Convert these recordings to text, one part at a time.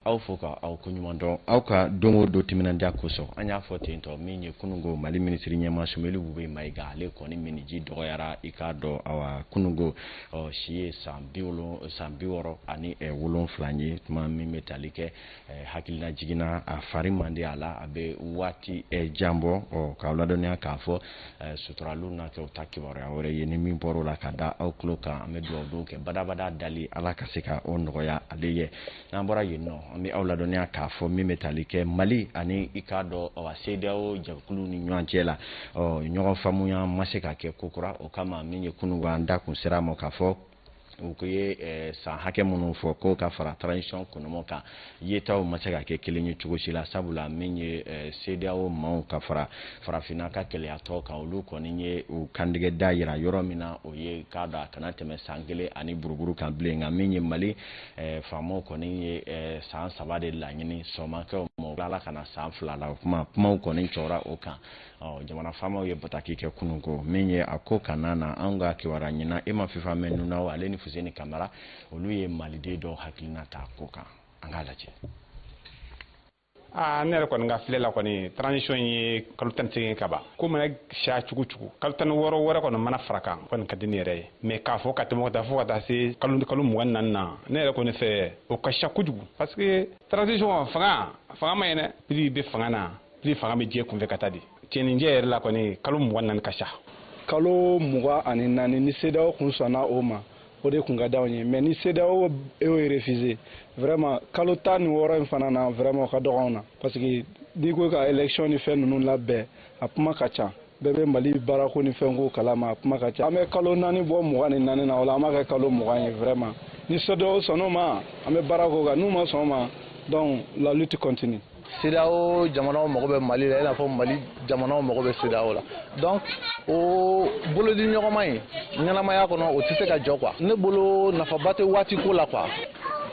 aw fo ka aw ko ɲuman dɔn aw ka don o don timinandiya kosɔn an y'a fɔ ten tɔ min ye kunungo mali minisiri ɲɛma sumeli bube mayiga ale kɔni minniji dɔgɔyara i k'a dɔn awa kunungo ɔ si ye san bi wolon san bi wɔɔrɔ ani eh, wolonfila ye tuma min bɛ tali kɛ eh, hakilina jiginna a fari man di a la a bɛ waati eh, jan bɔ ɔ k'aw ladɔnniya k'a fɔ eh, suturaliw na kɛ u ta kibaruya wɛrɛ ye ni min bɔr'o la ka da aw tulo kan an bɛ dugawu don kɛ badabada dali ala ka se ka o nɔgɔya ale ye n'an bɔra yen nɔ an bɛ aw ladɔnniya k'a fɔ min bɛ tali kɛ mali ani i k'a dɔn awa CEDEAO jɛkuluw ni ɲɔgɔn cɛ la ɔ ɲɔgɔn faamuya ma se ka kɛ kokura o kama min ye kununko an da kun sera a ma k'a fɔ u ko ye eh, san hakɛ minnu fɔ ko ka fara transition kɔnɔmɔ kan yetaw ma se ka kɛ kelen ye cogo si la sabula min ye eh, CEDEAO maaw ka fara farafinna ka kelenyatɔn kan olu kɔni ye u kandigɛ da yira yɔrɔ min na o ye i k'a dɔn a kana tɛmɛ san kelen ani buruburu kan bilen nka min ye mali eh, faamaw kɔni ye eh, san saba de laɲini sɔn ma kɛ o ma tilala ka na san fila la o kuma kumaw kɔni cɔra o kan ɔ jamana faamaw ye bataki kɛ kunun ko min ye a ko kana na anw ka kibaruya ɲinina e ma fifa mɛn nunaw ale ni fuseni kamara olu ye maliden dɔw hakilina ta ko kan an k'a lajɛ aa ne yɛrɛ kɔni ka filɛ la kɔni transition ye kalo tan ni seegin ka ban ko mana siya cogo cogo kalo tan ni wɔɔrɔ wɛrɛ kɔni mana fara kan o kɔni ka di ne yɛrɛ ye mais k'a fɔ ka tɛmɛ ka taa fo ka taa se kalo kalo mugan ni naani na ne yɛrɛ kɔni fɛ o ka siya kojugu parce que transition fanga fanga ma ye dɛ plus i bɛ fanga na plus fanga bɛ diya i kun fɛ ka taa di cɛninjɛ yɛrɛ la kɔni kalo mugan ni naani ka siya kalo mugan ani naani ni CEDEAO kun sɔnna o ma o de tun ka d'anw ye mais ni CEDEAO y'o refusé vraiment kalo tan ni wɔɔrɔ in fana na vraiment o ka dɔgɔ anw na parce que n'i ko ka élection ni fɛn ninnu labɛn a kuma ka ca bɛɛ bɛ mali baarako ni fɛnko kalama a kuma ka ca an bɛ kalo naani bɔ mugan ni naani na o la an b'a kɛ kalo mugan ye vraiment ni CEDEAO sɔnn'o ma an bɛ baara k'o kan n'u ma sɔn o ma donc la lutte continue CEDEAO jamanaw mago bɛ Mali la i n'a fɔ Mali jamanaw mago bɛ CEDEAO la donc o bolodiɲɔgɔnma in ɲɛnamaya kɔnɔ o tɛ se ka jɔ quoi ne bolo nafaba tɛ waati ko la quoi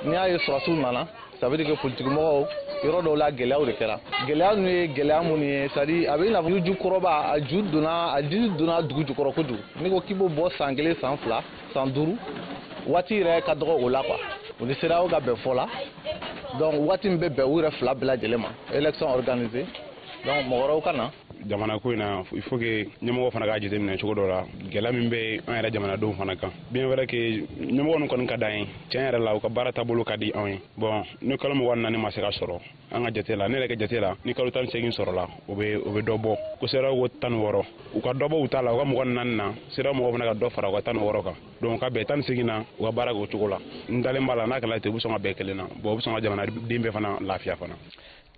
n'i y'a ye sɔrɔsiw nana ça veut dire que politikimɔgɔw yɔrɔ dɔw la gɛlɛyaw de kɛra gɛlɛya ninnu ye gɛlɛya minnu ye c'est à dire a bɛ i n'a fɔ ju kɔrɔba a ju donna a dili donna dugu jukɔrɔ kojugu n'i ko k'i b'o bɔ san kelen san fila san duuru waati yɛrɛ ka dɔgɔ o la quoi u ni CEDEAO ka bɛn fɔ la donc waati min bɛ bɛn u yɛrɛ fila bɛɛ lajɛlen ma élection organisée donc mɔgɔ wɛrɛw ka na jamana ko in na il faut que ɲɛmɔgɔ fana k'a jateminɛ cogo dɔ la gɛlɛya min bɛ an yɛrɛ jamanadenw fana kan bien vrai que ɲɛmɔgɔ ninnu kɔni ka d'an ye tiɲɛ yɛrɛ la u ka baara taabolo ka di anw ye bon ni kalo mugan ni naani ma se ka sɔrɔ an ka jate la ne yɛrɛ ka jate la ni kalo tan ni segin sɔrɔla o bɛ o bɛ dɔ bɔ ko CEDEAO ko tan wɔɔrɔ u ka dɔ bɔ u ta la u ka mugan ni naani na CEDEAO mɔgɔw fana ka dɔ fara u ka tan wɔɔrɔ kan donc ka bɛn tan ni segin na u ka baara k'o cogo la n dalen b'a la n'a kɛla ten u bɛ sɔn ka bɛn kelen na bon u bɛ sɔn ka jamanaden bɛɛ fana lafiya fana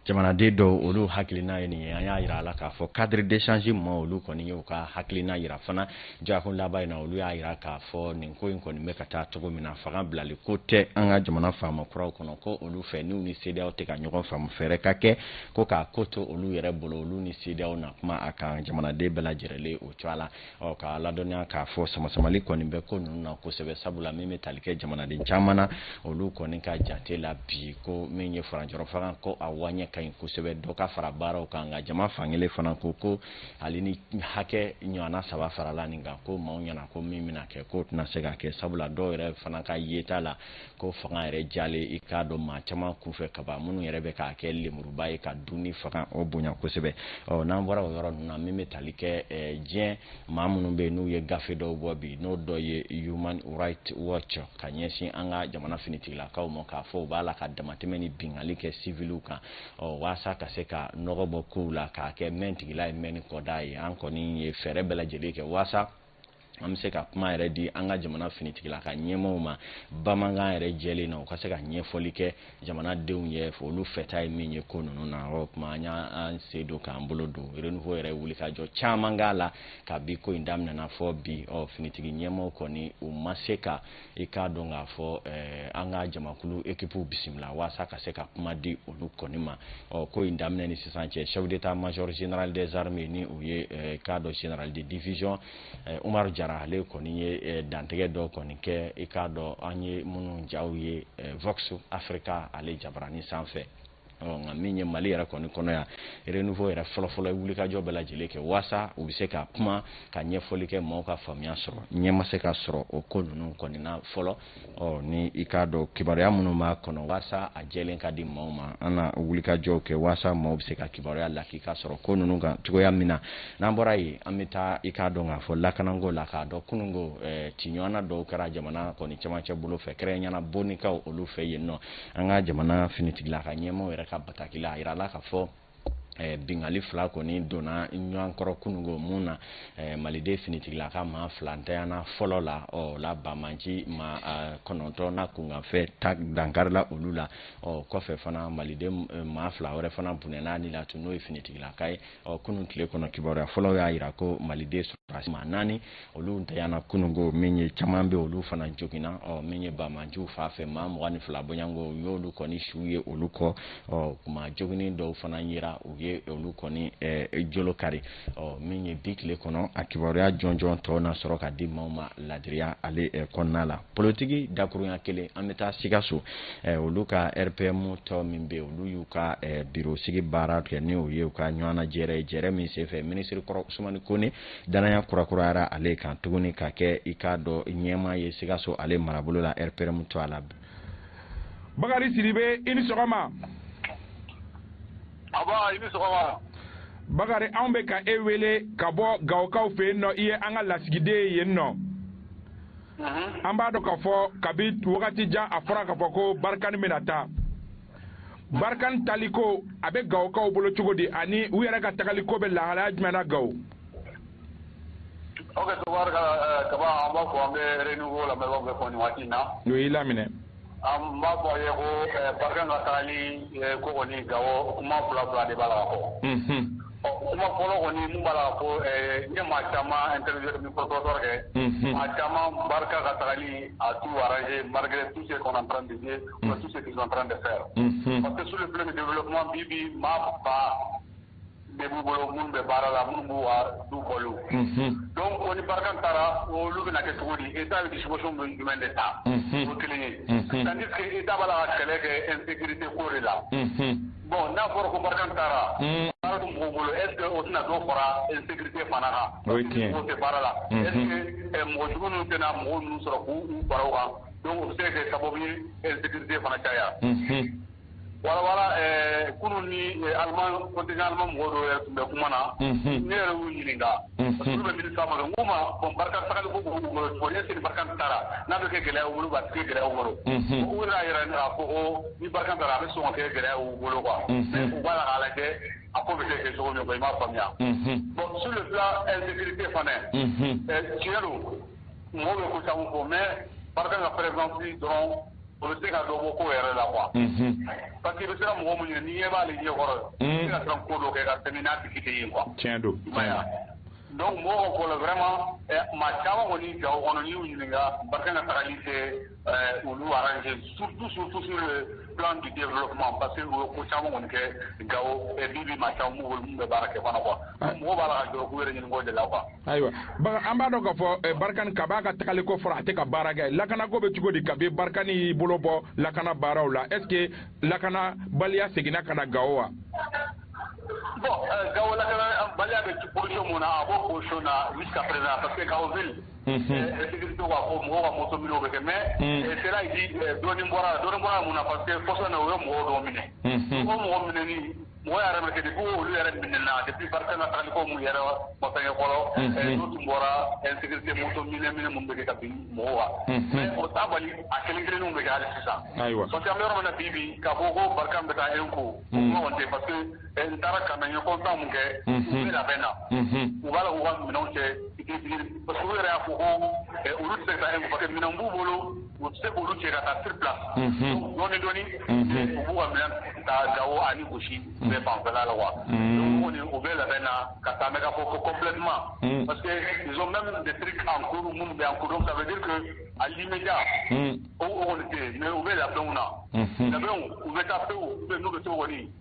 jamanaden dɔw olu hakilina ye nin ye an y'a yira a la k'a fɔ cadre d'échange maa olu kɔni ye u ka hakilina yira fana Dɔgɔkun laban in na olu y'a yira k'a fɔ nin ko in kɔni bɛ ka taa cogo min na fanga bilali ko tɛ an ka jamana faama kuraw kɔnɔ ko olu fɛ n'u ni CEDEAO tɛ ka ɲɔgɔn faamu fɛɛrɛ ka kɛ ko k'a ko to olu yɛrɛ bolo olu ni CEDEAO na kuma a kan jamanaden bɛɛ lajɛrɛlen o cogoya la ɔ k'a ladɔnniya k'a fɔ samasamali kɔni bɛ ko ninnu na kosɛbɛ sabula min bɛ tali kɛ jamanaden caman na olu kɔni ka jate la bi ko min ye furancɛrɔfanga ko a waɲɛ ka ɲi kosɛbɛ dɔ ka fara baaraw kan nka jama fankelen fana ko ko hali ni hakɛ ɲɔgɔnna saba farala nin kan ko maaw ɲɛna ko min bɛna kɛ k'o tɛna se ka kɛ sabula dɔw yɛrɛ fana ka yeta la ko fanga yɛrɛ jalen i k'a dɔn maa caman kunfɛ kaban minnu yɛrɛ bɛ k'a kɛ lemuruba ye ka dun ni fanga o bonya kosɛbɛ ɔ n'an bɔra o yɔrɔ ninnu na min bɛ tali kɛ eh, diɲɛ maa minnu bɛ yen n'u ye gafe dɔw bɔ bi n'o dɔ ye human right watch ka ɲɛsin an ka jamana finitigilakaw ma k'a fɔ u b'a la ka damatɛmɛ ni bingali kɛ siviliw kan ɔ waasa ka se ka nɔgɔ bɔ kow la k'a kɛ mɛn tigila ye mɛn ni kɔda ye an kɔni ye fɛɛrɛ bɛɛ lajɛlen kɛ waasa an bɛ se ka kuma yɛrɛ di an ka jamana finitigilaka ɲɛmɔgɔw ma bamanankan yɛrɛ jɛlen na u ka se ka ɲɛfɔli kɛ jamanadenw ye olu fɛta ye min ye ko ninnu na o tuma an y'an sen don k'an bolo don renouveau yɛrɛ wulikajɔ caman k'a la kabi ko in daminɛna fɔ bi ɔ finitigi ɲɛmɔgɔw kɔni u ma se ka i k'a dɔn k'a fɔ eh, an ka jamakulu ekipuw bisimila waasa ka se ka kuma di olu kɔni ma ɔ ko in daminɛ ni sisan cɛ chef d'état major général des armées ni o ye eh, k'a dɔn général de division eh, umaru jara ale kɔni ye dantigɛ dɔ kɔni kɛ i k'a dɔn an ye minnu jaw ye vox africa ale jabarani sanfɛ nka min ye mali yɛrɛ kɔni kɔnɔ yan renouveau yɛrɛ fɔlɔfɔlɔ ye wulikajɔ bɛɛ lajɛlen kɛ waasa u bɛ se ka kuma ka ɲɛfɔli kɛ maaw ka faamuya sɔrɔ ɲɛ ma se ka sɔrɔ o ko ninnu kɔni na fɔlɔ ɔ ni i k'a dɔn kibaruya minnu b'a kɔnɔ waasa a jɛlen ka di maaw ma an na wulikajɔw kɛ waasa maaw bɛ se ka kibaruya lakika sɔrɔ ko ninnu kan cogoya min na n'an bɔra yen an bɛ taa i k'a dɔn k'a fɔ lakanako la k'a dɔn kununko ciɲɔgɔnna dɔw kɛra jamana kɔni cɛmancɛ bolo fɛ kɛrɛnkɛrɛnnenya la bonikaw olu fɛ yen nɔ an ka jamana finitigilaka ɲɛmaaw yɛrɛ ka bataki la a yirala k'a fɔ Eh, bingali fila kɔni donna ɲɔgɔn kɔrɔ kunungo min na eh, maliden finitigilaka maa fila ntanyana fɔlɔ la ɔ la banbaanci maa eh, kɔnɔntɔn na kunkanfɛ ta dankarila olu la ɔ kɔfɛ fana maliden maa fila wɛrɛ fana bɔnɛna ni la tun n'o ye finitigilakaw ye ɔ kunun tile kɔnɔ kibaruya fɔlɔ y'a jira ko maliden sɔrɔdasi maa naani olu ntanyana kununko min ye caman bɛ olu fana joginna ɔ min ye banbaanciw fan fɛ maa mugan ni fila bɔɲanko u y'olu kɔni suw ye olu kɔ ɔ maa joginnen dɔw fana yera u ye olu kɔni ɛɛ jolo kari ɔ min ye bi tile kɔnɔ a kibaruya jɔnjɔn tɔ na sɔrɔ ka di maaw ma ladiriya ale kɔnɔna la politiki dakuruɲa kelen an bɛ taa sikaso eh, olu ka rpm tɔn min bɛ olu y'u ka eh, biro sigi baara kɛ ni o ye u ka ɲɔgɔnna jɛrɛ ye jɛrɛ min senfɛ minisiri kɔrɔ usumani kone danaya kurakurayara ale kan tuguni ka kɛ i k'a dɔn ɲɛmaa ye sikaso ale marabolo la rpm tɔgɔ la bakari sidibe i ni sɔgɔma aba i ni sɔgɔma bakari anw bɛ ka e wele ka bɔ gawokaw fɛ yen nɔ i ye an ka lasigiden ye yen nɔ an b'a dɔn k'a fɔ kabi wagati jan a fɔra k'a fɔ ko barikani bɛna taa barikani taaliko a bɛ gawokaw bolo cogo di ani u yɛrɛ ka tagaliko bɛ lahalaya jumɛn na gawo ok tabarikala kaba an b'a fɔ an bɛ renouveau lamɛnbaaw bɛɛ fo nin waati in na o y'i laminɛ An b'a fɔ ye ko ba ka taa ni ko kɔni ga kuma fila fila de b'a la kɔ ɔ kuma fɔlɔ kɔni b'a la ko ne ma caman kɔrɔtɔ kɛ ma caman barika ka taa ni a tu ye marire tu se kɔnɔ se tɛ fɛ yan a tɛ su min kuma bi bi maa ba de b'u bolo minnu bɛ baara la minnu b'u ka du balo donc o ni barikani taara olu bɛna kɛ cogo di état bɛ disposition jumɛn de ta o kelen ye tandis que état b'a la ka kɛlɛ kɛ insécurité ko de la bon n'a fɔra ko barikani taara baara tɛ mɔgɔw bolo est ce que o tɛna dɔ fara insécurité fana kan o ye tiɲɛ u tɛ baara la est ce que mɔgɔ jugu ninnu tɛna mɔgɔ ninnu sɔrɔ k'u fara u kan donc o bɛ se ka kɛ sababu ye insécurité fana caya wala kulu ni alima mɔgɔ dɔw yɛrɛ tun bɛ kuma na ne yɛrɛ y'u ɲininka olu bɛ mini ma k'u ma bɔn barika sabali ko bolo ne siri barika taara n'a bɛ kɛ gɛlɛya wolo ka tile gɛlɛya wolo u n'a yɛrɛ ne ko ko ni barika taara a bɛ sɔn kɛ gɛlɛya u bolo kuwa u b'a la ala kɛ a ko bɛ kɛ cogo min ko i m'a faamuya bɔn su fila ɛzte fana tiɲɛ don mɔgɔw bɛ ko sabu ko mɛ barika ka pɛrɛz dɔrɔn o bɛ se ka dɔn ko yɛrɛ la wa pa que bɛ sera mɔgɔ min ye n'i ye b'aale ɲɛ kɔrɔ ye ka ko dɔ kɛ ka tɛmɛ n'a tigi ye kuwa tiɲɛ don dɔnku mɔgɔw ko wɛrɛma maa caman kɔni ja kɔnɔ y'u ɲininka ba ka taarali kɛ olu arase su dususu filan di den kuma pa que u ko caman kɔni kɛ ga bi bi maa caman bɛ baara kɛ kɔnɔ kuwa mɔgɔ b'a la jɔ' yɛrɛ ɲini de la kuwa ayiwa an b'a dɔn k'a fɔ eh, barikani ka b'a ka tagali ko fɔra a tɛ ka baara kɛ lakanako bɛ cogo di kabi barikani y'i bolo bɔ lakana baaraw la est ce que lakanabaliya seginna ka na gawo wa bon eh, gawo lakanabaliya bɛ position mun na a b'o position na jusqu'à présent parce que gawo ville sécurité ka ko mɔgɔw ka moto minɛ o bɛ kɛ mais cela dit dɔɔnin bɔra dɔɔnin bɔra mun na parce que kɔsa in na u ye mɔgɔw dɔw minɛ o mɔgɔ minɛni mɔgɔ yɛrɛ bɛ kɛ de ko olu yɛrɛ minɛna depuis barikani ka tagali ko mun yɛrɛ ma fɛngɛ fɔlɔ ɛɛ n'u tun bɔra insécurité moto minɛ minɛ minnu bɛ kɛ ka bin mɔgɔw kan mais o t'a bali a kelen kelenninw bɛ kɛ hali sisan ayiwa parce que an bɛ yɔrɔ min na bi bi k'a fɔ ko barikani bɛ taa un coup o kuma kɔni tɛ parce que n taara ka na n ye constat mun kɛ u bɛ labɛn na u b'a la k'u ka minɛnw cɛ parce que u yɛrɛ y'a fɔ ko olu tɛ se ka taa un coup parce que minɛn b'u bolo u tɛ se k'olu cɛ ka taa sur place dɔɔni dɔɔni u b'u ka minɛn ta Gawo ani Gosi bɛɛ fanfɛla la quoi donc kɔni u bɛ labɛn na ka taa mais k'a fɔ ko complètement parce que ils ont même des trucs en cours minnu bɛ en cours donc ça veut dire que à l'immédiat o kɔni tɛ yen mais u bɛ labɛnw na labɛnw u bɛ taa pewu n'u bɛ se k'o kɔni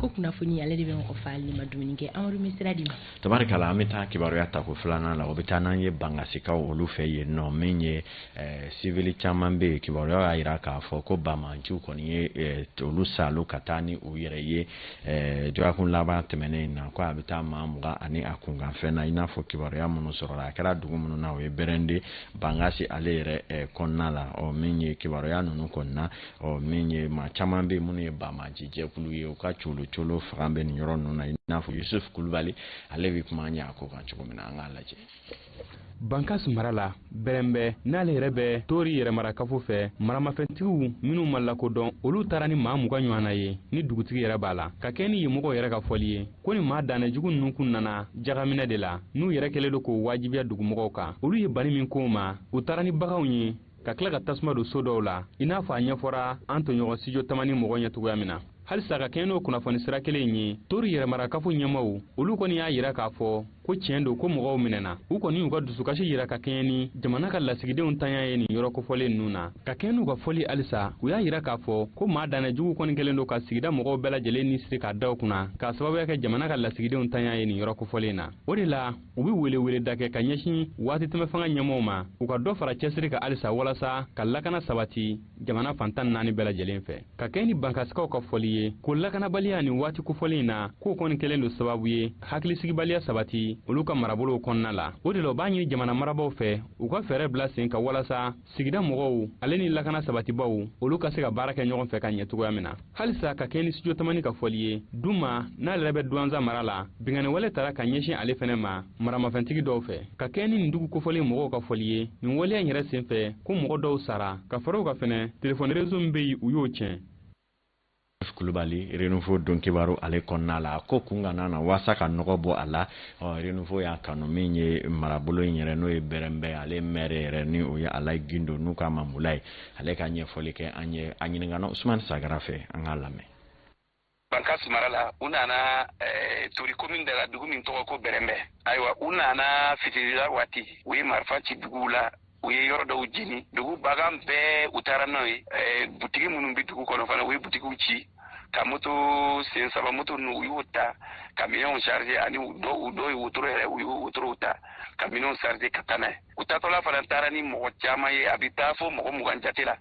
ko kunnafoni ale de bɛ mɔgɔ fa n'i ma dumuni kɛ amadu bɛ sira d'i ma tabarikala an bɛ taa kibaruya tako filanan la o bɛ taa n'an ye bangasikaw olu fɛ yen nɔ min ye eh, sivili caman bɛ yen kibaruya y'a jira k'a fɔ ko banbaanciw kɔni ye eh, olu salo ka taa ni u yɛrɛ ye eh, dɔgɔkun laban tɛmɛnen in na ko a bɛ taa maa mugan ani a kunkanfɛn na i n'a fɔ kibaruya minnu sɔrɔla a kɛra dugu minnu na o ye bɛrɛnde bangasi ale yɛrɛ eh, kɔnɔna la ɔ min ye kibaruya ninnu kɔnɔna ɔ min ye maa caman bɛ minnu ye banbaanci jɛkulu ye u ka colo colo fanga bɛ nin yɔrɔ ninnu na i n'a fɔ yusuf kulubali ale bɛ kuma an ye a ko kan cogo min na an k'a lajɛ bankas mara la bɛrɛnbɛ n'ale yɛrɛ bɛ tori yɛrɛmarakafo fɛ maramafɛntigiw minnu ma lakodɔn olu taara ni maa mugan ɲɔgɔnna ye ni dugutigi yɛrɛ b'a la ka kɛɲɛ ni yen mɔgɔw yɛrɛ ka fɔli ye ko nin maa dannɛ jugu ninnu kun nana jagaminɛ de la n'u yɛrɛ kɛlen don k'o wajibiya dugumɔgɔw kan olu ye bani min k'o ma u taara ni baganw ye ka tila ka tasuma don so dɔw la i n'a fɔ a ɲɛfɔra an tɔɲɔgɔn studio tamani mɔgɔ ɲɛ cogoya min na halisa ka kɛɲɛ n'o kunnafoni sira kelen in ye tori yɛrɛmarakafo ɲɛmaaw olu kɔni y'a jira k'a fɔ ko tiɲɛ don ko mɔgɔw minɛna u kɔni y'u ka dusukasi jira ka kɛɲɛ ni jamana ka lasigidenw ntanya ye nin yɔrɔ kofɔlen ninnu na ka kɛɲɛ n'u ka fɔli halisa u y'a jira k'a fɔ ko maa dannɛ jugu kɔni kɛlen don ka sigida mɔgɔw bɛɛ lajɛlen ni siri k'a da u kunna k'a sababuya kɛ jamana ka lasigidenw ntanya ye nin yɔrɔ kofɔlen na o de la u bɛ weleweleda kɛ ka ɲɛsin waati tɛmɛ fanga ɲɛmɔgɔw ma u ka dɔ fara cɛsiri kan halisa walasa ka lakana sabati jamana fan tan ni naani bɛɛ lajɛlen fɛ ka kɛɲɛ ni bankasikaw ka fɔli ye ko lakanabaliya nin waati kofɔlen in na k'o kɔni kɛlen don sababu ye hakilisigibaliya sabati olu ka marabolow kɔnɔna la o de la u b'a ɲini jamana marabaw fɛ u ka fɛɛrɛ bila sen kan walasa sigida mɔgɔw ale ni lakana sabatibaw olu ka se ka baara kɛ ɲɔgɔn fɛ ka ɲɛ cogoya min na halisa ka kɛɲɛ ni studio tamani ka fɔli ye duma n'ale yɛrɛ bɛ duwanza mara la binkanniwale tara ka ɲɛsin ale fɛnɛ ma maramafɛntigi dɔw fɛ ka kɛɲɛ ni nin dugu kofɔlen mɔgɔw ka fɔli ye nin waleya in yɛrɛ sen fɛ ko mɔgɔ dɔw sara ka fara o kan fɛnɛ telefɔni rezo min bɛ yen u y'o tiɲɛ kulubali renouveau don kibaru ale kɔnɔna la ko kunkan na waasa ka nɔgɔ bɔ a la renouveau y'a kanu min ye marabolo in yɛrɛ n'o ye bɛrɛnbɛ ale mɛri yɛrɛ ni o ye alayi gindo n'u k'a ma mulayi ale ka ɲɛfɔli kɛ an ye a ɲininkana usumani sagara fɛ an k'a lamɛn bankasi mara la u nana eh, tori komini de la dugu min tɔgɔ ko bɛrɛnbɛ ayiwa u nana fitirila waati u ye marifa ci dugu la u ye yɔrɔ dɔw jeni dugu bagan bɛɛ u taara n'o ye eh, butigi minnu bɛ dugu kɔnɔ fana u ye butigiw ci ka moto sen saba moto ninnu u y'o ta ka minɛnw charge ani u dɔw u dɔw ye wotoro yɛrɛ u y'o wotorow ta ka minɛnw charge ka taa n'a ye u taatɔla fana taara ni mɔgɔ caman ye a bɛ taa fo mɔgɔ mugan jate la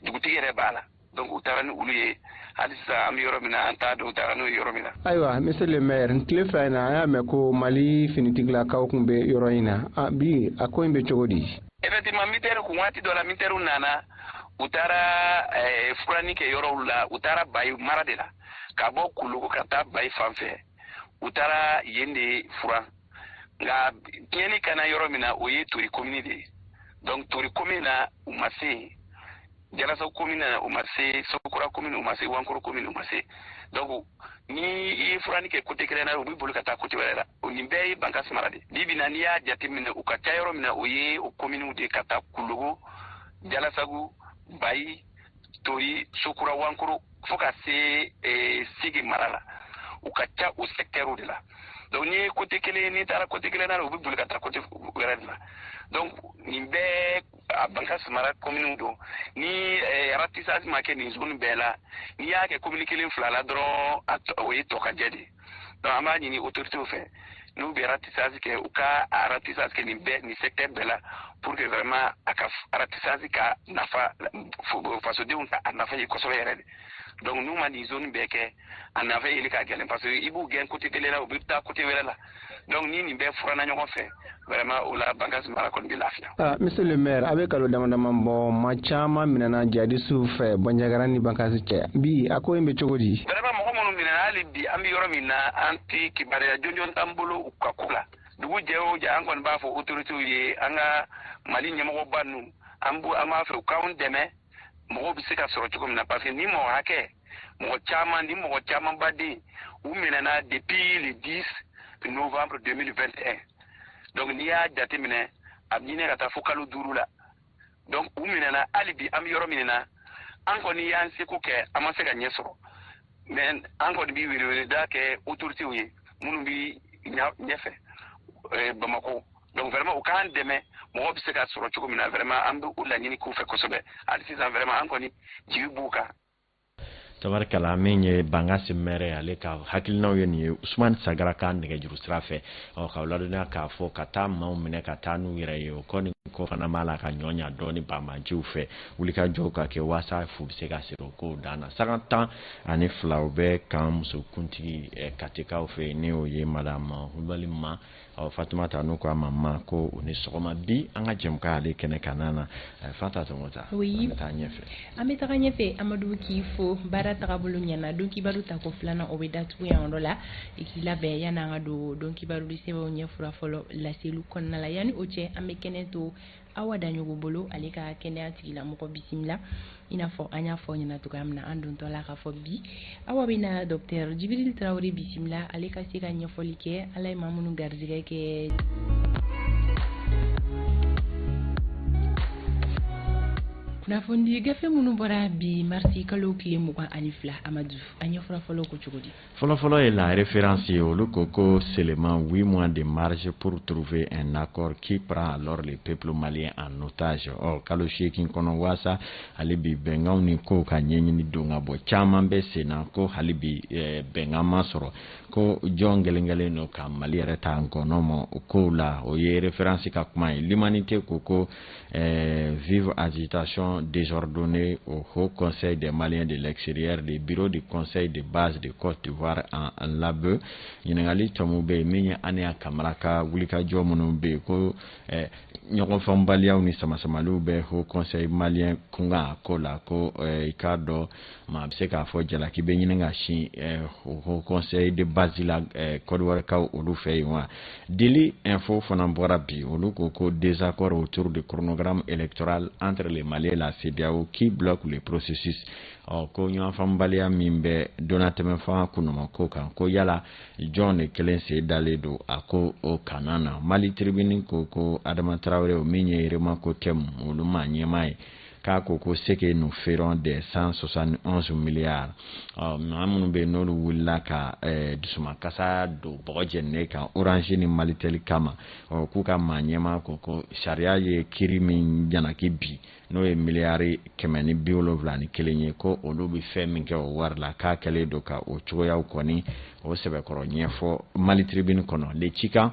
dugutigi yɛrɛ b'a la donc u taara ni olu ye hali sisan an bɛ yɔrɔ min na an t'a dɔn u taara n'o ye yɔrɔ min na. ayiwa monsieur le maire nin tile fila in na an y'a mɛn ko mali finitigilakaw kun bɛ yɔrɔ in na ah, bi a ko in bɛ cogo di. effectivement mitɛri kun waati dɔ la mitɛriw nana u taara eh, furanni kɛ yɔrɔw la u taara bayi mara de la ka bɔ kulogo ka taa bayi fan fɛ u taara yen de furan nka tiɲɛni kana yɔrɔ min na o ye tori komini de ye donc tori komini na u ma se jalasagu komini na u ma se sokura komini u ma se wankoro komini u ma se donc ni i ye furanni kɛ kote kelen na u bɛ boli ka taa kote wɛrɛ la o nin bɛɛ ye bankasi mara de bi bi na n'i y'a jate minɛ u ka ca yɔrɔ min na o ye o kominiw de ka taa kulogo jalasagu bayi tori sokura wankoro fo ka se eh, sege mara la u ka ca o sɛkitɛriw de la donc n'i ye kote kelen n'i taara kote kelen na u bɛ boli ka taa kote wɛrɛ de la donc nin bɛɛ a bankasi mara kominiw don ni eh, aratisasi ma kɛ nin zone bɛɛ la n'i y'a kɛ komini kelen fila la dɔrɔn o ye tɔkajɛ de ye donc an b'a ɲini autorités fɛ n'u bɛ ratissage kɛ u ka ratissage kɛ nin bɛɛ nin secteur bɛɛ la pour que vraiment a ka ratissage ka nafa fasodenw ka a nafa ye kosɛbɛ yɛrɛ de donc n'u ma nin zone bɛɛ kɛ a nafa yeli ka gɛlɛn parce que i b'u gɛn côté kelen na u bɛ taa côté wɛrɛ la donc ni nin bɛɛ furana ɲɔgɔn fɛ vraiment o la Bankass mara kɔni bɛ lafiya. Ah, monsieur le maire a bɛ kalo dama dama bɔ maa caman minɛna jadisiw fɛ Bandiagara ni Bankass cɛ bi a ko in bɛ cogo di. vraiment mɔgɔ minnu minɛna hali bi an bɛ yɔrɔ min na an tɛ kibaruya jɔnjɔn t'an bolo u ka ko la dugu jɛ o jɛ an kɔni b'a fɔ autorités ye an ka Mali ɲɛmɔgɔba ninnu an b'u an b'a fɛ u k'anw dɛmɛ. mɔgɔw bɛ se ka sɔrɔ cogo min na parce que ni mɔgɔ hakɛ mɔgɔ caman ni mɔgɔ camanba den u minɛna depuis le 10 novembre 2021 donc n'i y'a jateminɛ a bɛ ɲini ka taa fo kalo duuru la donc u minɛna hali bi an bɛ yɔrɔ min na an kɔni y'an seko kɛ an ma se ka ɲɛ sɔrɔ mais an kɔni bɛ weleweleda kɛ autorités ye minnu bɛ ɲɛfɛ eh, bamakɔ donc vraiment u k'an dɛmɛ mɔgɔ bɛ se ka sɔrɔ cogo min na vraiment an bɛ u laɲini k'u fɛ kosɛbɛ hali sisan vraiment an kɔni jigi b'u kan tabarikala min ye bankasi maire ale ka hakilinaw ye nin ye usumani sagara ka nɛgɛjuru sira fɛ ɔ ka ladɔnya k'a fɔ ka taa maaw minɛ ka taa n'u yɛrɛ ye o kɔni ko fana b'a la ka ɲɔnya dɔɔni banbaanciw fɛ wulikajɔw ka kɛ waasa fu bɛ se ka siri o kow dan na sanga tan ani fila u bɛ kan musokuntigi katikaw fɛ ni o ye madame kulubali ma ɔ fatumata n'u ko a ma ma ko o ni sɔgɔma bi an ka jɛmukan ale kɛnɛ kanan na eh, fata tɔmɔta an bɛ taa ɲɛfɛ an bɛ taga ɲɛfɛ amadu k'i fo baara tagabolo ɲɛna don kibaru tako filanan o bɛ datugu yan yɔrɔ la i k'i labɛn yanni an ka don don kibarudi sɛbɛnw ɲɛfura fɔlɔ laseliw kɔnɔna la yanni o cɛ an bɛ kɛnɛ to awa daɲɔgɔ bolo ale ka kɛnɛya tigilamɔgɔ bisimila i n'a fɔ an y'a fɔ ɲɛna cogoya min na an dontɔ la k'a fɔ bi awa bɛ na docteur jibirili tarawele bisimila ale ka se ka ɲɛfɔli kɛ ala ye maa minnu garijɛgɛ kɛ kunnafoni gafe minnu bɔra bi marisi kalo tile mugan ani fila amadu an ɲɛfura fɔlɔ ko cogo di Fɔlɔfɔlɔ ye la référence ye olu ko ko seulement 8 mois de marge pour trouver un accord qui prend alors le peuple malien en otage ɔ kalo seegin kɔnɔ waasa hali bi bɛnkanw ni kow ka ɲɛɲini don ka bɔ caman bɛ sen na ko hali bi eh, bɛnkan ma sɔrɔ ko jɔn gɛlɛnkɛlen don ka mali yɛrɛ ta nkɔnɔ ma o kow la o ye référence ka kuma ye l'humanité ko ko vive agitation désordonnée au haut conseil des Maliens de l'extérieur des bureaux du conseil de base de Côte d'Ivoire en lambeaux ɲininkali tɔmu bɛ yen min ye an y'a kamara ka wulikajɔ minnu bɛ yen ko ɲɔgɔnfaamubaliyaw ni samasamaliw bɛ haut conseil malien kunkan ko la ko i k'a dɔn maa bɛ se k'a fɔ jalaki bɛ ɲini ka sin eh, haut conseil de base la eh, kɔdiwarikaw olu fɛ yen wa deli info fana bɔra bi olu ko ko désaccord autour du chronogramme électoral entre les maliens et la CEDEAO qui bloque le processus ɔ ko ɲɔgɔnfaamubaliya min bɛ donnatɛmɛfanga kunuma ko kan ko yala jɔn de kelen sen dalen don a ko o kanan na mali tribune ko ko adama tarawele min ye remakotɛmu olu ka ɲɛmaa ye k'a ko ko ce que nous ferons des cent soixante et onze milliards ɔ maa minnu bɛ yen n'olu wulila ka eh, dusumakasa don bɔgɔ jɛninen kan orange ni malitɛli kama ɔ k'u ka maa ɲɛmaa ko ko sariya ye kiri min jalaki bin n'o ye miliyari kɛmɛ ni bi wolonwula ni kelen ye ko olu bɛ fɛn min kɛ o wari la k'a kɛlen don ka o cogoyaw kɔni o sɛbɛkɔrɔ ɲɛfɔ Mali Tribune kɔnɔ Le Tjikan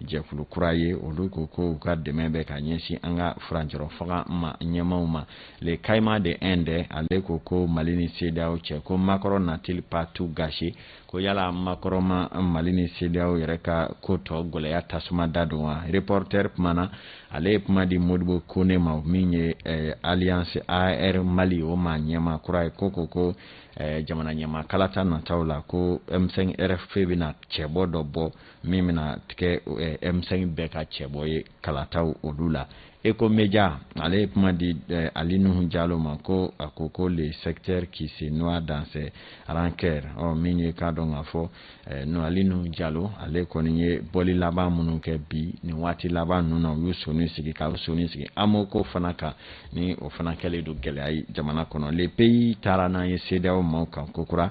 jɛkulu kura ye olu ko ko u ka dɛmɛ bɛ ka ɲɛsin an ka furancɛrɔ fanga maa ɲɛmaaw ma Le Caïman de Indé ale ko ko mali ni CEDEAO cɛ ko Macron n'a-t-il pas tout gâché ko yala Macron ma mali ni CEDEAO yɛrɛ ka ko tɔ gɛlɛya tasuma dadon wa Reporter kumana ale ye kuma di modibo kone ma min ye eh, alliance ar mali o maa ɲɛmaa kura ye ko ko ko eh, jamana ɲɛmaa kalata nataw la ko m5 rfp bɛna cɛbɔ dɔ bɔ min bɛna tigɛ m5 eh, bɛɛ ka cɛbɔ ye kalataw olu la Échos Médias ale ye kuma di eh, ali nuhu jalo ma ko a ko ko le sectaire qui se noie dans ses rancœurs ɔ oh, min ye k'a dɔn k'a fɔ eh, no ali nuhu jalo ale kɔni ye bɔli laban minnu kɛ bi nin waati laban ninnu na u y'u soni sigi ka u soni sigi AMO ko fana kan ni o fana kɛlen don gɛlɛya ye jamana kɔnɔ Le Pays taara n'an ye CEDEAO maaw kan kokura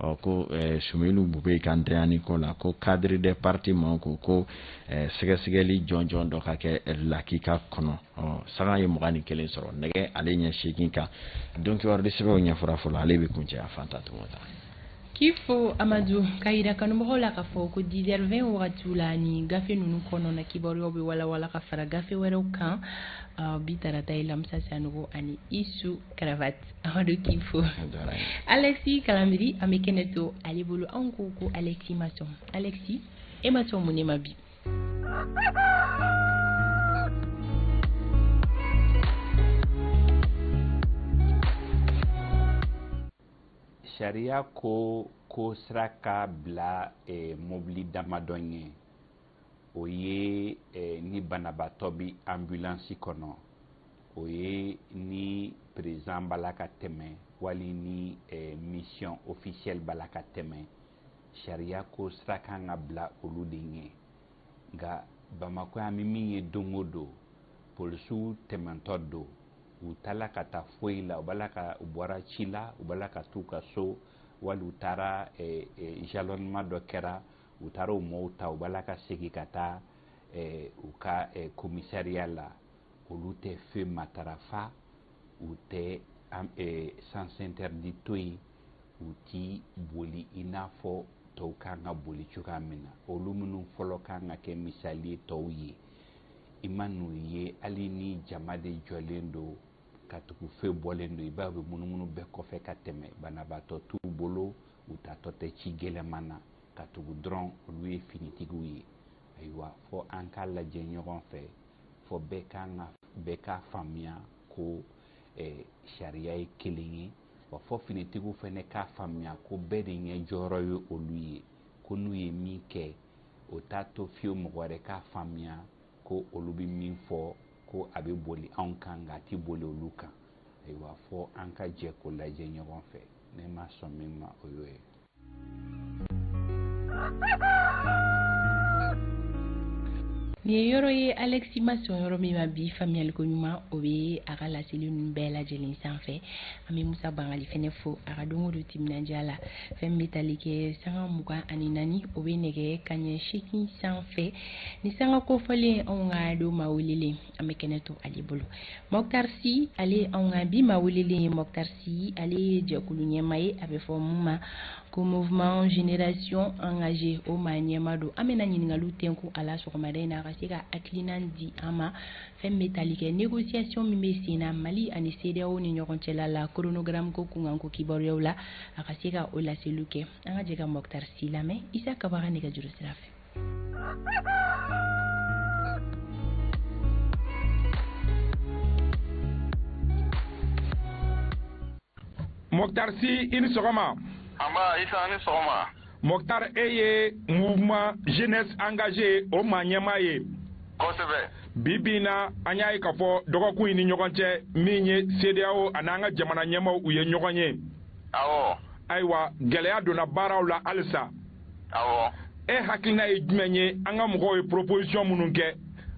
ɔ ko eh, Soumeylou Boubèye ka ntanyani ko la ko cadre des partis maaw ko ko eh, sɛgɛsɛgɛli jɔnjɔn dɔ ka kɛ eh, lakika kɔnɔ ɔ sanga ye mugan ni kelen sɔrɔ nɛgɛ ale ɲɛ seegin kan donc kibari sɛbɛnw ɲɛfɔra fɔlɔ ale bɛ kuncɛ a fan ta tɔgɔ ta k'i fo amadu k'a yira kanubagaw la k'a fɔ ko dix heures vingt wagatiw la ni gafe ninnu kɔnɔna kibaruyaw bɛ walawala ka fara gafe wɛrɛw kan bi tarata ye lamisa sanogo ani isu karavati Amadu k'i fo Alexis Kalambry an bɛ kɛnɛ to ale bolo anw ko ko Alexis ma sɔn Alexis e ma sɔn mun ne ma bi sariya ko ko sira ka bila mɔbili damadɔ ye o ye eh, ni banabaatɔ bɛ ambulansi kɔnɔ o ye ni président b'a la ka tɛmɛ wali ni eh, mission officielle b'a la ka tɛmɛ sariya ko sira kan ka bila olu de ɲɛ nka bamakɔ yan bɛ min ye don o don polisiw tɛmɛntɔ don u taala ka taa foyi la u b'a la ka u bɔra ci la u b'a la ka t'u ka so wali u taara eh, eh, jalonnement dɔ kɛra u taara o mɔɔw ta u bila ka segin ka taa eh, u ka eh, komisariya la olu tɛ feu matarafa u tɛ eh, sens interdit to yen u ti boli i n'a fɔ tɔw kan ka boli cogoya min na olu minnu fɔlɔ kan ka kɛ misali ye tɔw ye i man'u ye hali ni jama de jɔlen don katugu feu bɔlen don i b'a ye u bɛ munumunu bɛɛ kɔfɛ ka tɛmɛ banabaatɔ t'u bolo u taatɔ tɛ ci gɛlɛman na katugu dɔrɔn olu ye finitigiw ye ayiwa fɔ an k'a lajɛ ɲɔgɔn fɛ fɔ bɛɛ kan ka bɛɛ k'a faamuya ko eh, sariya ye kelen ye wa fɔ finitigiw fana k'a faamuya ko bɛɛ de ɲɛ jɔyɔrɔ ye olu ye ko n'u ye min kɛ o t'a to fiyewu mɔgɔ wɛrɛ k'a faamuya ko olu bɛ min fɔ ko a bɛ boli anw kan nka a tɛ boli olu kan ayiwa fɔ an ka jɛ k'o lajɛ ɲɔgɔn fɛ ne ma sɔn min ma o y'o ye nin ye yɔrɔ ye Alexis ma sɔn yɔrɔ min ma bi faamuyaliko ɲuman o bɛ a ka laseli ninnu bɛɛ lajɛlen sanfɛ an bɛ Musa Bangali fɛnɛ fo a ka don o don timinandiya la fɛn min bɛ tali kɛ sanga mugan ani naani o bɛ nɛgɛ kaɲɛ seegin sanfɛ ni sanga kofɔlen anw ka don maa welelen an bɛ kɛnɛ to ale bolo Mokhtar Sy ale anw ka bi maa welelen ye Mokhtar Sy ale ye jɛkulu ɲɛmaa ye a bɛ fɔ mun ma ko mouvement génération engagée o maa ɲɛmaa don an bɛna ɲininkaliw tɛnku a la sɔgɔmada in na a ka se ka hakilina di an ma fɛn bɛ tali kɛ négociation min bɛ sen na Mali ani CEDEAO ni ɲɔgɔn cɛla la chronogramme ko kunkanko kibaruyaw la a ka se ka o laseliw kɛ an ka jɛ ka Mokhtar Sy lamɛn Isa Kaba ka nɛgɛjuru sira fɛ Mokhtar Sy i ni sɔgɔma. Anba Isa a ni sɔgɔma. Mokhtar e ye mouvement jeunesse engagée o maa ɲɛmaa ye. Kosɛbɛ. Bi bi in na an y'a ye k'a fɔ dɔgɔkun in ni ɲɔgɔn cɛ min ye CEDEAO ani an ka jamana ɲɛmaaw u ye ɲɔgɔn ye. Awɔ. Ayiwa gɛlɛya donna baaraw la halisa. awɔ e hakilina ye jumɛn ye an ka mɔgɔw ye proposition minnu kɛ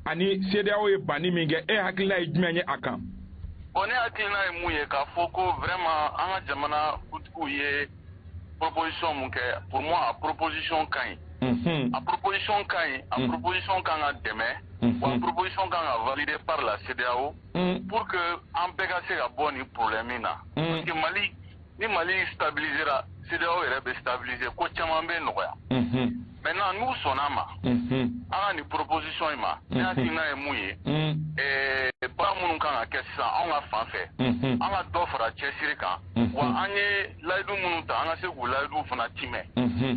ani CEDEAO ye banni min kɛ e hakilina ye jumɛn ye a kan bon ne hakilina ye mun ye k'a fɔ ko vraiment an ka jamana kuntigiw ye proposition mun kɛ pour moi a proposition ka ɲi a proposition ka ɲi a proposition kan ka dɛmɛ wa proposition kan ka valider par la CEDEAO pour que an bɛɛ ka se ka bɔ nin problème in na parce que Mali ni mali stabilisera CEDEAO yɛrɛ bɛ stabilise ko caman bɛ nɔgɔya maintenant n'u sɔnna ma an ka nin proposition in ma ne hakilina ye mun ye baara minnu kan ka kɛ sisan anw ka fan fɛ an ka dɔ fara cɛsiri kan wa an ye layidu minnu ta an ka se k'u layidu fana timɛ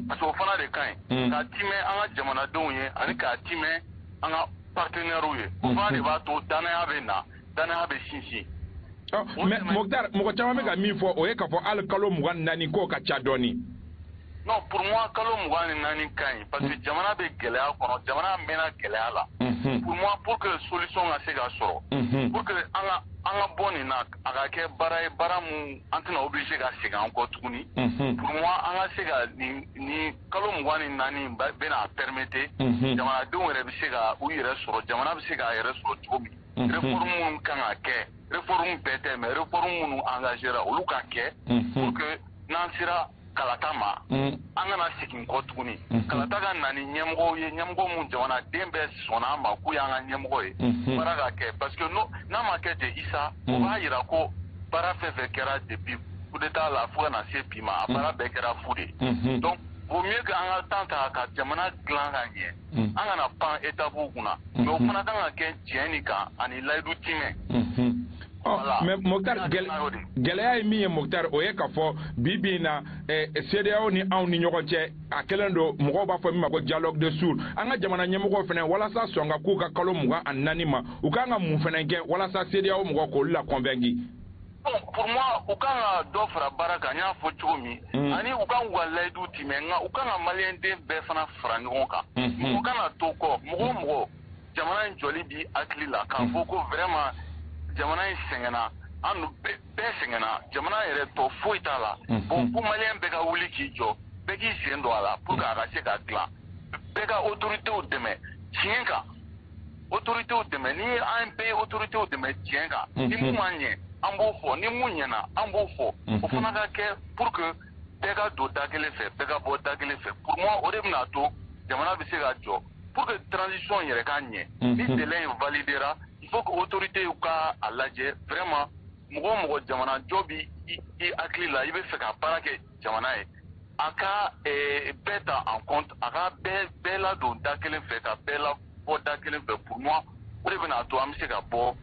parce que o fana de ka ɲi k'a timɛ an ka jamanadenw ye ani k'a timɛ an ka partenairew ye o fana de b'a to dannaya bɛ na dannaya bɛ sinsin mais mɔgɔ caman bɛ ka min fɔ o ye k'a fɔ hali kalo mugan ni naani k'o ka ca dɔɔnin non pour moi kalo mugan ni naani ka ɲi parce que jamana bɛ gɛlɛya kɔnɔ jamana mɛnna gɛlɛya la pour moi pour que solution ka se ka sɔrɔ pour que an ka an ka bɔ nin na a ka kɛ baara ye baara min an tɛna obligé ka segin an kɔ tuguni pour moi an ka se ka nin nin kalo mugan ni naani bɛna permettre jamanadenw yɛrɛ bɛ se ka u yɛrɛ sɔrɔ jamana bɛ se k'a yɛrɛ sɔrɔ cogo min minnu kan ka kɛ réforme bɛɛ tɛ mais réforme minnu engagera olu ka kɛ pour que n'an sera kalata ma an kana segin kɔ tuguni kalata ka na ni ɲɛmɔgɔ ye ɲɛmɔgɔ minnu jamanaden bɛɛ sɔnna a ma k'u y'an ka ɲɛmɔgɔ ye baara ka kɛ parce que n'a ma kɛ ten Isa o b'a jira ko baara fɛn fɛn kɛra depuis coup d'état la fo ka na se bi ma a baara bɛɛ kɛra fu de ye donc vaut mieux que an ka temps ta ka jamana dilan ka ɲɛ an kana pan étapew kunna mais o fana kan ka kɛ tiɲɛ nin kan ani layidu timɛ mais Moctar gɛlɛya ye min ye Moctar o ye k'a fɔ bi bi in na eh, CEDEAO ni anw ni ɲɔgɔn cɛ a kɛlen don mɔgɔw b'a fɔ min ma ko dialogue de sourds an ka jamana ɲɛmɔgɔw fana walasa sɔn ka k'u ka kalo mugan ani naani ma u kan ka mun fana kɛ walasa CEDEAO mɔgɔ k'olu la convaincu pour moi u kan ka dɔ fara baara kan n y'a fɔ cogo min ani u ka u ka layidu timɛ nka u kan ka maliyɛnden bɛɛ fana fara ɲɔgɔn kan mɔgɔ kana to kɔ mɔgɔ o mɔgɔ jamana in jɔli b'i hakili la k'a fɔ ko vraiment jamana in sɛgɛnna an bɛɛ sɛgɛnna jamana yɛrɛ tɔ foyi t'a la bon ko maliyɛn bɛɛ ka wuli k'i jɔ bɛɛ k'i sen don a la pour que a ka se ka dilan bɛɛ ka autoritéw dɛmɛ tiɲɛ kan autoritéw dɛmɛ ni an bɛɛ ye autoritéw dɛmɛ tiɲɛ kan ni min ma ɲɛ an b'o fɔ ni min ɲɛna an b'o fɔ o fana ka kɛ pour que bɛɛ ka don da kelen fɛ bɛɛ ka bɔ da kelen fɛ pour moi o de bɛna a to jamana bɛ se ka jɔ pour que transition yɛrɛ ka ɲɛ ni délai in validera il faut que autoritéw ka a lajɛ vraiment mɔgɔ o mɔgɔ jamanajɔ bɛ i hakili la i b'a fɛ ka baara kɛ jamana ye a ka bɛɛ ta en compte a ka bɛɛ ladon da kelen fɛ ka bɛɛ labɔ da kelen fɛ pour moi o de bɛna a to an bɛ se ka bɔ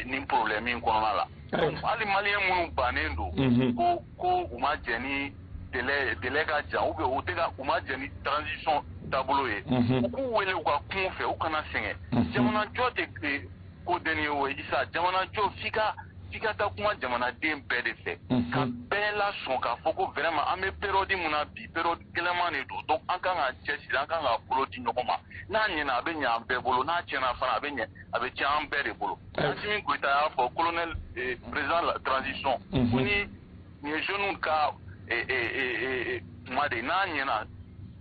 nin problème in kɔnɔna la hali maliyɛn minnu bannen don ko ko u ma jɛn ni délai ka jan u u tɛ u ma jɛn ni transition taabolo ye u k'u wele u ka kum'u fɛ u kana sɛgɛn jamanajɔ tɛ tile ko deni ye o isa jamana jɔ f'i ka f'i ka taa kuma jamanaden bɛɛ de fɛ ka bɛɛ lasɔn k'a fɔ ko vraiment an bɛ période mun na bi période gɛlɛman de don donc an kan ka cɛsiri an kan ka bolo di ɲɔgɔn ma n'a ɲɛna a bɛ ɲɛ an bɛɛ bolo n'a tiɲɛna fana a bɛ ɲɛ a bɛ tiɲɛ an bɛɛ de bolo Assimi Goita y'a fɔ colonel eh, président de la transition ko ni nin ye jeunes ka eh, eh, kuma de ye n'a ɲɛna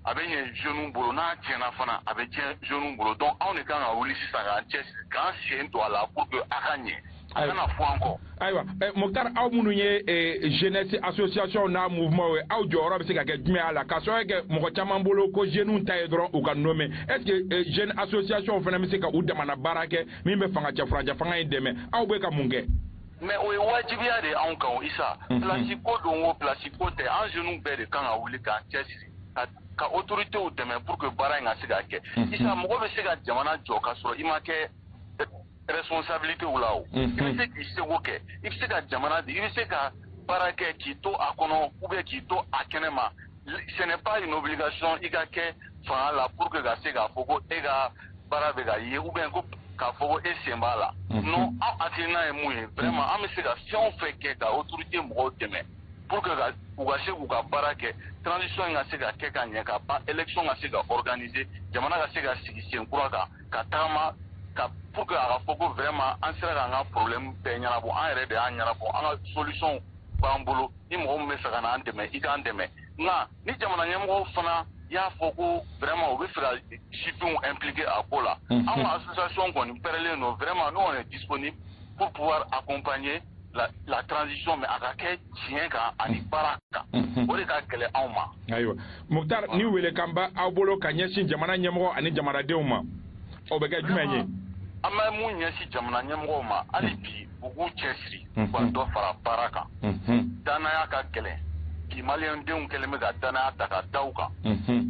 a bɛ ɲɛ jeunes bolo n'a tiɲɛna fana a bɛ tiɲɛ jeunes bolo donc anw de kan ka wuli sisan k'an cɛ k'an sen don a la pour que a ka ɲɛ a kana fɔ an kɔ. ayiwa Moktar aw minnu ye jeunesse association n'a mouvement ye aw jɔyɔrɔ bɛ se ka kɛ jumɛn a la k'a sababu kɛ mɔgɔ caman bolo ko jeunes ta ye dɔrɔn u ka nommé est ce que jeune association fana bɛ se ka u damana baara kɛ min bɛ fanga cɛ furancɛ fanga in dɛmɛ aw bɛ ka mun kɛ. mais o ye wajibiya de anw kan isa mhm. plasi ko don o plasi ko tɛ an jeunes bɛɛ de kan ka wuli k'an cɛ siri ka autoritéw dɛmɛ pour que baara in ka se ka kɛ mhm. isa mɔgɔ bɛ se ka jamana jɔ k'a sɔrɔ i ma kɛ responsabilitéw la o i bɛ se k'i seko kɛ i bɛ se ka jamana di i bɛ se ka baara kɛ k'i to a kɔnɔ ou bien k'i to a kɛnɛ ma ce n'est pas une obligation i ka kɛ fanga la pour que ka se k'a fɔ ko e ka baara bɛ ka ye ou bien ko k'a fɔ ko e sen b'a la non an hakilina ye mun ye vraiment an bɛ se ka fɛn o fɛn kɛ ka autorité mɔgɔw dɛmɛ pour que u ka se k'u ka baara kɛ transition in ka se ka kɛ ka ɲɛ ka ban élection ka se ka organiser jamana ka se ka sigi sen kura kan ka taama pour que a ka fɔ ko vraiment an sera k'an ka problème bɛɛ ɲɛnabɔ an yɛrɛ de y'a ɲɛnabɔ an ka solution b'an bolo ni mɔgɔ min bɛ fɛ ka n'an dɛmɛ i k'an dɛmɛ nka ni jamana ɲɛmɔgɔw fana y'a fɔ ko vraiment u bɛ fɛ ka sifinw impliquer a ko la an ka association kɔni pɛrɛlen don vraiment donc on est disponible pour pouvoir accompagner la, la transition mais a ka kɛ tiɲɛ kan ani baara kan o de ka gɛlɛn anw ma ayiwa Moktar ni welekan bɛ aw bolo ka ɲɛsin jamana ɲɛmɔgɔ ani jamanadenw ma o bɛ kɛ jumɛn ye an bɛ mun ɲɛsin jamana ɲɛmɔgɔw ma hali bi u k'u cɛ siri u ka dɔ fara baara kan danaya ka gɛlɛn bi malidenw kɛlen bɛ ka danaya ta ka da u kan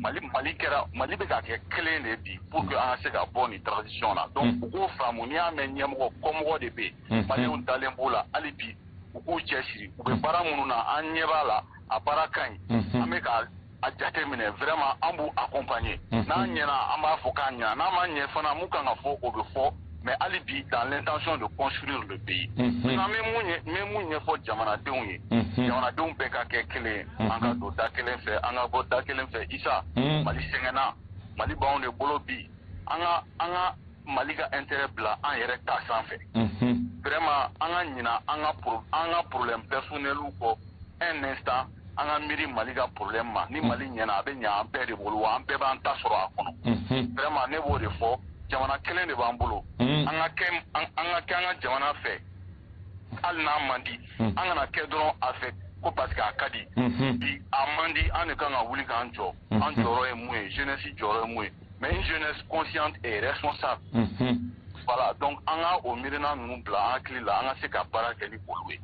mali mali kɛra mali bɛ ka kɛ kelen de bi pour que an ka se ka bɔ nin transition na donc u k'o faamu n'i y'a mɛn ɲɛmɔgɔ kɔmɔgɔ de bɛ yen maliyɛnw dalen b'u la hali bi u k'u cɛ siri u bɛ baara minnu na an ɲɛ b'a la a baara ka ɲi an bɛ ka a jate minɛ vraiment an b'u accompagner mhm. n'a ɲɛna an b'a fɔ k'a ɲɛna n'a ma ɲɛ fana mun kan ka fɔ o bɛ fɔ mais hali bi dans l'intention de construire le pays mhm. maintenant n bɛ mun ɲɛ n bɛ mun ɲɛfɔ jamanadenw ye mhm. jamanadenw bɛɛ ka kɛ kelen ye an ka don da kelen fɛ an ka bɔ da kelen fɛ Isa Mali sɛgɛnna Mali b'anw de bolo bi an ka an ka Mali ka intérêt bila an yɛrɛ ta sanfɛ vraiment an ka ɲina an ka an ka problème personnel kɔ un instant an ka miiri Mali ka problème ma ni Mali ɲɛna a bɛ ɲɛ an bɛɛ de bolo wa an bɛɛ b'an ta sɔrɔ a kɔnɔ unhun vraiment ne b'o de fɔ jamana kelen de b'an bolo an ka kɛ an ka kɛ an ka jamana fɛ hali n'a man di an kana kɛ dɔrɔn a fɛ ko parce que a ka di bi a man di an de kan ka wuli k'an jɔ an jɔyɔrɔ ye mun ye jeunesse jɔyɔrɔ ye mun ye mais une jeunesse consciente et responsable voilà donc an ka o miirina ninnu bila an hakili la an ka se ka baara kɛ ni olu ye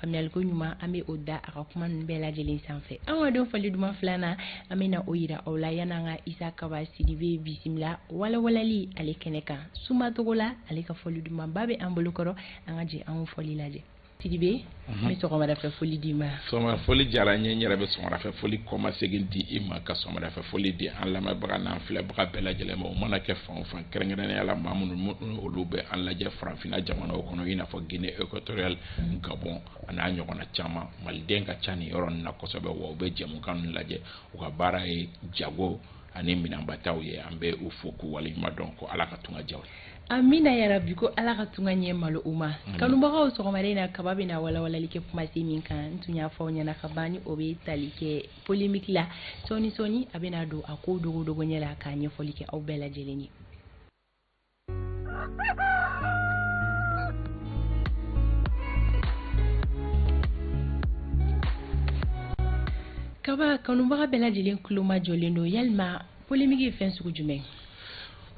faamuyali ko ɲuman an bɛ o da a ka kuma ninnu bɛɛ lajɛlen sanfɛ an ka don fɔli duman filanan an bɛna o yira aw la yanni an ka isa kaba sidibe bisimila walawalali ale kɛnɛ kan sumacogo la ale ka fɔli dumanba bɛ an bolo kɔrɔ an ka jɛ an fɔli lajɛ sidibe n bɛ sɔgɔmadafɛ foli d'i ma sɔgɔmada foli diyara n ye n yɛrɛ bɛ sɔgɔmadafɛ foli kɔmasegin di i ma ka sɔgɔmadafɛ foli di an lamɛnbaga n'an filɛbaga bɛɛ lajɛlen ma o mana kɛ fan o fan kɛrɛnkɛrɛnnenya la maa minnu olu bɛ an lajɛ farafinna jamanaw kɔnɔ i n'a fɔ Guinée équatoriale ani Gabon an'a ɲɔgɔnna caman maliden ka ca nin yɔrɔ na kosɛbɛ wa u bɛ jɛmukan lajɛ u ka baara ye jago ani minɛnbataw ye an bɛ u fo k'u waleɲuman dɔn ko ala ka tunga diya amina yarabi ko ala ka tunga ɲɛ malo u ma kanubagaw sɔgɔmada in na kaba bɛna walawalali kɛ kumasen min kan n tun y'a fɔ aw ɲɛna ka ban o bɛ tali kɛ polémique la sɔɔni sɔɔni a bɛna don a ko dogo dogo ɲɛ la k'a ɲɛfɔli kɛ aw bɛɛ lajɛlen ye kaba kanubaga bɛɛ lajɛlen tulo majɔlen don yalima polémique ye fɛn sugu jumɛn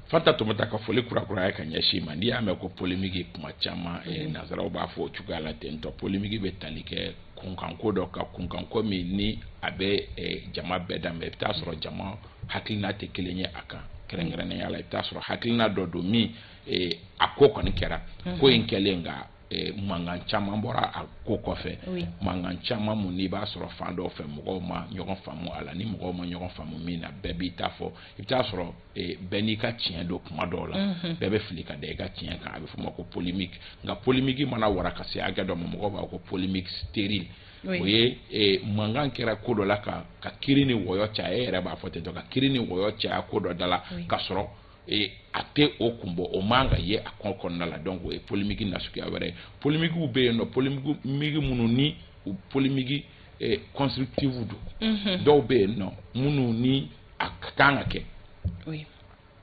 fatumata ka foli kurakuraya ka ɲɛsin i ma n'i y'a mɛn ko polémique kuma caman eh, mm-hmm. nanzaraw b'a fɔ o cogoya la ten tɔ polémique bɛ tali kɛ kunkanko dɔ kan kunkanko min ni a bɛ eh, jama bɛɛ danbe i bɛ taa sɔrɔ jama hakilina tɛ kelen ye a kan kɛrɛnkɛrɛnnenya la i bɛ t'a sɔrɔ hakilina dɔ don min eh, a ko kɔni kɛra mhm. ko in kɛlen nka eh, mankan caman bɔra a ko kɔfɛ mankan caman min n'i b'a sɔrɔ fan dɔw fɛ mɔgɔw ma ɲɔgɔn faamu a la ni mɔgɔw ma ɲɔgɔn faamu min na bɛɛ b'i ta fɔ i bɛ t'a sɔrɔ eh, bɛɛ n'i ka tiɲɛ don kuma dɔw la mhm. bɛɛ bɛ fili ka da i ka tiɲɛ kan a bɛ f'o ma ko polémique nka polémique mana wara ka se hakɛ dɔ ma mɔgɔw b'a ko polémique stérile o ye eh, mankan kɛra ko dɔ la ka ka kiri ni wɔyɔ caya e yɛrɛ b'a fɔ ten tɔ ka kiri ni wɔyɔ caya ko dɔ da la ka sɔrɔ eh, a tɛ o kun bɔ o man ka ye a ko kɔnɔna la donc o ye polémique nasuguya wɛrɛ ye polémiquew bɛ yen nɔ polémique minnu ni u polémique eh, constructive don mhm. dɔw bɛ yen nɔ minnu ni a ka kan ka kɛ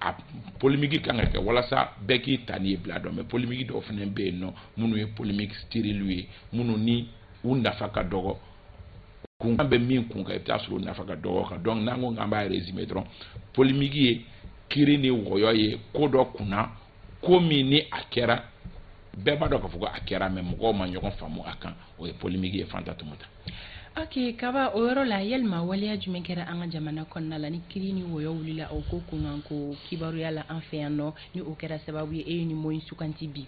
a polémique kan ka kɛ walasa bɛɛ k'i ta n'i ye bila dɔn mais polémique dɔw fana bɛ yen nɔ minnu ye polémique stérilew ye minnu ni u nafa ka dɔgɔ kunkan bɛ min kun kan i bɛ taa sɔrɔ u nafa ka dɔgɔ kan donc n'an ko k'an b'a résumer dɔrɔn polémique ye kiri ni wɔyɔ ye ko dɔ kunna ko min ni a kɛra bɛɛ b'a dɔn k'a fɔ ko a kɛra mais mɔgɔw ma ɲɔgɔn faamu a kan o ye polémique ye fatumata ok kaba o yɔrɔ la yalima waleya jumɛn kɛra an ka jamana kɔnɔna la ni kiri ni wɔyɔ wulila o ko kunkan ko kibaruya la an fɛ yan nɔ ni o kɛra sababu ye e ye ni mot in sugandi bi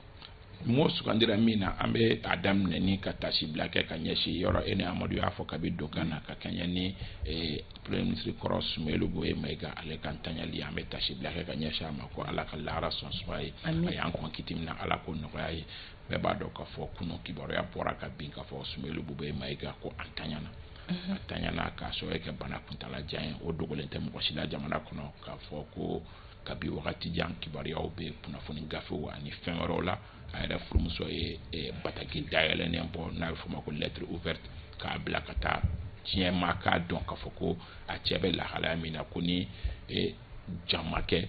mot sugandira min na an bɛ a daminɛ ni ka tasibila kɛ ka ɲɛsin yɔrɔ e ni amadu y'a fɔ kabi donkan na ka kɛɲɛ ni eh, premier ministre kɔrɔ sumeyilu bubɛyi mayiga ale ka ntanyali an bɛ tasibila kɛ ka ɲɛsin a ma ko ala ka lahara sɔn suma ye a y'an kɔn kiti min na ala k'o nɔgɔya ye bɛɛ b'a dɔn k'a fɔ kunun kibaruya bɔra ka bin k'a fɔ sumeyilu bubɛyi mayiga ko a ntanyana a ntanyana k'a sɔrɔ kɛ bana kuntala jan ye o dogolen tɛ mɔgɔ si la jamana kɔnɔ k'a fɔ ko kabi wagati jan kibaruyaw bɛ kunnafoni gafew ani fɛn wɛrɛw la a yɛrɛ furumuso ye eh, bataki dayɛlɛnnen bɔ n'a bɛ f'o ma ko lettre ouverte k'a bila ka taa diɲɛ ma k'a dɔn k'a fɔ ko a cɛ bɛ lahalaya min na ko ni eh, jan ma kɛ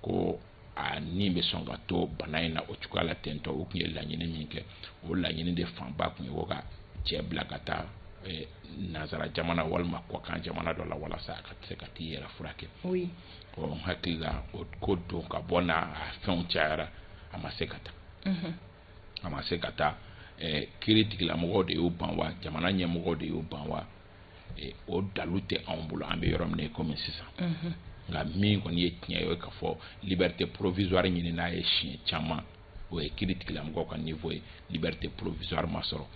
ko a ni bɛ sɔn ka to bana in na o cogoya la ten donc u tun ye laɲini min kɛ o laɲini de fanba tun ye u ka cɛ bila ka taa eh, nanzara jamana walima kɔkan jamana dɔ la walasa a ka se ka t'i yɛrɛ furakɛ ɔ n hakili la o ko don ka bɔ n'a fɛnw cayara a ma se ka taa mhm. a ma se ka taa eh, kiritigɛlamɔgɔw de y'u ban wa jamana ɲɛmɔgɔw de y'u ban wa o dalu tɛ anw bolo an bɛ yɔrɔ min na komi sisan mhm. nka min kɔni ye tiɲɛ ye o ye k'a fɔ liberté provisoire ɲinina a ye siɲɛ caman o ye kiritigɛlamɔgɔw ka niveau ye liberté provisoire ma sɔrɔ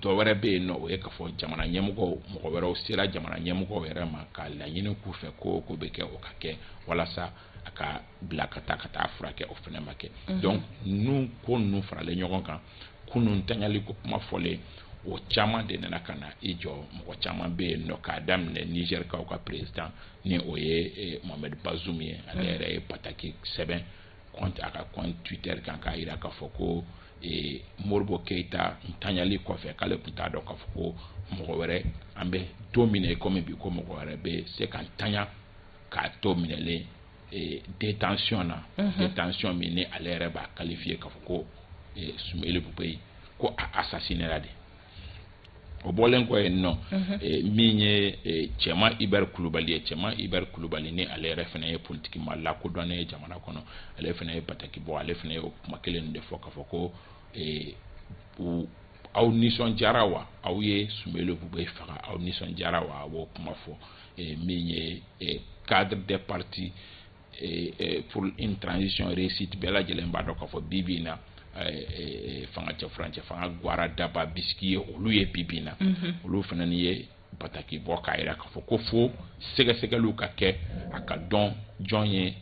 dɔ wɛrɛ bɛ yen nɔ o ye k'a fɔ jamana ɲɛmɔgɔw mɔgɔ wɛrɛw sera jamana ɲɛmɔgɔw yɛrɛ ma ka laɲini k'u fɛ ko o ko bɛ kɛ o ka kɛ walasa a ka bila ka taa ka taa furakɛ o fana ma kɛ mhm. donc ninnu ko ninnu faralen ɲɔgɔn kan kunun ntanyali ko kuma fɔlen o caman de nana ka na i jɔ mɔgɔ caman bɛ yen nɔ k'a daminɛ nizɛrikaw ka perezidan ni o ye eh, mohamed bazoum ye ale mhm. yɛrɛ ye bataki sɛbɛn a ka compte twitter kan k'a jira k'a fɔ ko eh, modibo keyita ntanyali kɔfɛ k'ale tun t'a dɔn k'a fɔ ko mɔgɔ wɛrɛ an bɛ don min na i komi bi ko mɔgɔ wɛrɛ bɛ se ka ntanya k'a to minɛlen eh, détention na mhm. détention min ni ale yɛrɛ b'a qualifier k'a fɔ ko eh, Sumeyilu Bubɛyi ko a assassinela de o bɔlen kɔ yen nɔ mhm. eh, min ye Cɛman Ibɛri Kulubali ye Cɛman Ibɛri Kulubali ni ale yɛrɛ fana ye politiki maa lakodɔnnen ye jamana kɔnɔ ale fana ye bataki bɔ ale fana ye o kuma kelen de fɔ k'a fɔ ko aw nisɔndiyara wa aw ye Sumeyilu Bubɛyi faga aw nisɔndiyara wa a b'o kuma fɔ eh, min ye eh, cadre des partis eh, pour une transition réussite bɛɛ lajɛlen b'a dɔn k'a fɔ bi bi in na fanga cɛ furancɛ fanga gwara daba bisiki ye olu ye bi bi in na mhm. olu fana ni ye bataki bɔ k'a jira k'a fɔ ko fo sɛgɛsɛgɛliw ka kɛ a ka dɔn jɔn ye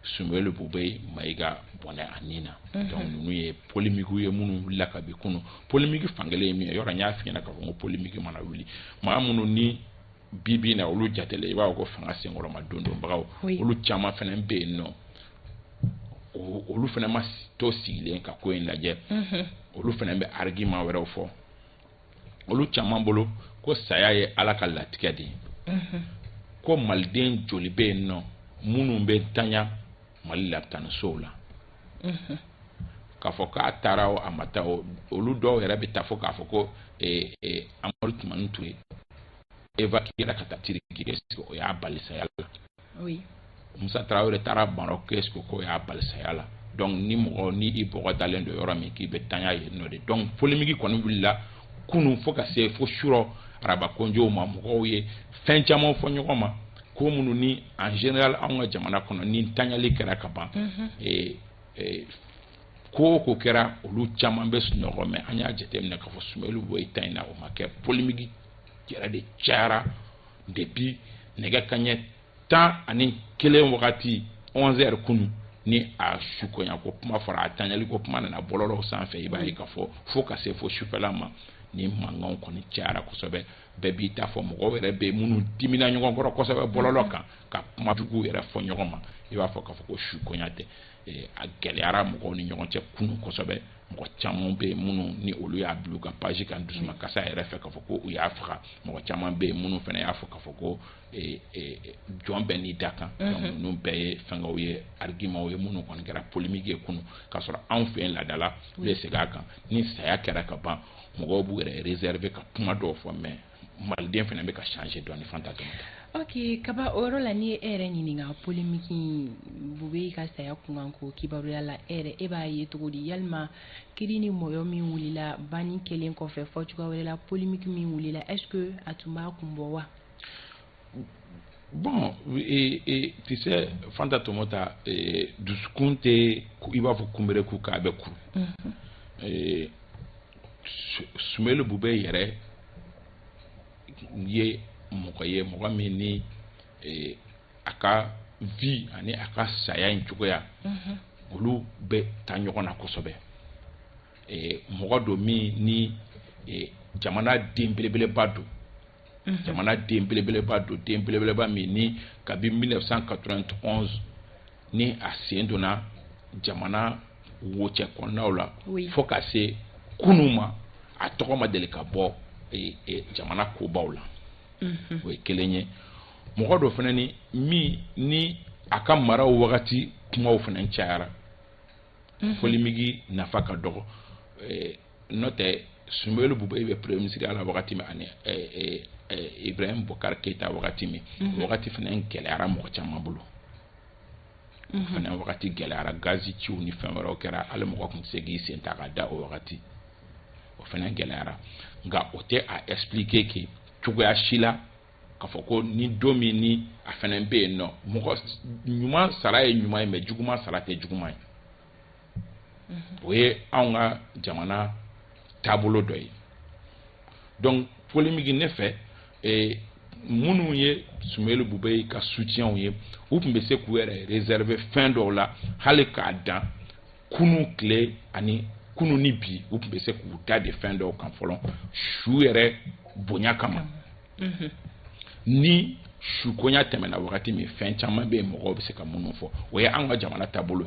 sumeyilu bubɛyi mayiga bɔnɛ a ni na mhm. donc ninnu ye polemikiw ye minnu wulila kabi kunu polemiki fankelen ye min ye yɔrɔ n y'a f'i ɲɛna k'a fɔ ko polemiki mana wuli maa minnu ni bi bi na olu jatele i b'a fɔ ko fanga senkɔrɔma dondonbagaw olu caman fana bɛ yen nɔ olu fana ma to sigilen ka ko in lajɛ mhm. olu fana bɛ arigima wɛrɛw fɔ olu caman bolo ko saya ye ala ka latigɛ de ye mhm. ko maliden joli bɛ yen nɔ minnu bɛ tanya mali la tan sow la k'a fɔ k'a taara o a ma taa o olu dɔw yɛrɛ bɛ taa fɔ k'a fɔ ko amadu tumani ture evakiyera ka taa tiriki est ce que o y'a bali saya la musa tarawele taara marɔk est ce que o y'a bali saya la donc ni mɔgɔ ni i bɔgɔ dalen don yɔrɔ min k'i bɛ tanya yen nɔ de donc polemiki kɔni wulila kunu fo ka se fo surɔ araba konjow ma mɔgɔw ye fɛn caman fɔ ɲɔgɔn ma ko minnu ni en général anw ka jamana kɔnɔ ni tanyali kɛra ka ban ko o ko kɛra olu caman bɛ sunɔgɔ mais an y'a jateminɛ k'a fɔ sumeyilu bubɛyi ta in na o ma kɛ polemiki yɛrɛ de cayara depuis nɛgɛ kaɲɛ tan ani kelen wagati onze heures kunun ni a sukonya ko kuma fɔra a tanyali ko kuma nana bɔlɔlɔw sanfɛ i b'a ye k'a fɔ fo ka se fo sufɛla ma ni mankanw kɔni cayara kosɛbɛ bɛɛ b'i ta fɔ mɔgɔw yɛrɛ bɛ minnu dimina ɲɔgɔn kɔrɔ kosɛbɛ bɔlɔlɔ kan ka kuma juguw yɛrɛ fɔ ɲɔgɔn ma i b'a fɔ k'a fɔ ko su koɲa tɛ eh, a gɛlɛyara mɔgɔw ni ɲɔgɔn cɛ kunu kosɛbɛ mɔgɔ caman bɛ yen minnu ni olu y'a bila u ka paji kan dusuma kasa yɛrɛ fɛ k'a fɔ ko u y'a faga mɔgɔ caman bɛ yen minnu fana y'a fɔ k'a fɔ ko eh, eh, jɔn bɛɛ n'i dakan mhm. ninnu bɛɛ ye fɛnkɛw ye arigimaw ye minnu kɔni kɛra polemiki ye kunu k'a sɔrɔ anw fɛ yen laadala u bɛ segin a kan ni saya kɛra ka ban mɔgɔw b'u yɛrɛ réserver ka kuma dɔw fɔ mais maliden fana bɛ ka changer dɔɔni fanta tomota ok kaba o yɔrɔ la ni n ye e yɛrɛ ɲininka polemiki in bubɛyi ka saya kunkan ko kibaruya la e yɛrɛ e b'a ye cogo di yalima kiri ni mɔyɔ min wulila banni kɛlen kɔfɛ fɔcogoya wɛrɛ la polemiki min wulila est ce que a tun b'a kun bɔ wa bon e, e, tu sais fanta tomota e, dusukun tɛ i b'a fɔ kunberekun k'a bɛ kuru mhm. sumeyilu bubɛyi yɛrɛ ye mɔgɔ ye mɔgɔ min ni a ka vie ani a ka saya in cogoya mhm. olu bɛ taa ɲɔgɔn na kosɛbɛ mɔgɔ don min ni jamana den belebeleba don jamana den belebeleba don den belebeleba min ni kabi 1991 ni a sen donna jamana wo cɛ kɔnɔnaw la fo ka se kunu ma a tɔgɔ ma deli ka bɔ jamana kobaw la o ye kelen ye mɔgɔ don fana ni min ni a ka maraw wagati kumaw fana cayara mhm. polémique nafa ka dɔgɔ eh, n'o tɛ soumeylou boubèye bɛ premier ministre ya la wagati min ani eh, eh, ibrahim boubacar keïta wagati min mhm. o wagati fana gɛlɛyara mɔgɔ caman bolo mhm. o fana wagati gɛlɛyara gazi ciw ni fɛn wɛrɛw kɛra hali mɔgɔ tun tɛ se k'i sen ta ka da o wagati o fana gɛlɛyara nka o tɛ a expliquer kɛ cogoya si la k'a fɔ ko ni don min ni a fana bɛ yen nɔ mɔgɔ ɲuman sara ye ɲuman ye mais juguman sara tɛ juguman ye mhm. o ye anw ka jamana taabolo dɔ ye donc polémique ne fɛ eh, minnu ye soumeylou boubèye ka soutienw ye u tun bɛ se k'u yɛrɛ réserver fɛn dɔw la hali k'a dan kunun tile ani kunun ni bi u tun bɛ se k'u dade fɛn dɔw kan fɔlɔ su yɛrɛ bonya kama mhm. ni su koɲa tɛmɛna wagati min fɛn caman bɛ yen mɔgɔw bɛ se ka minnu fɔ o ye an ka jamana taabolo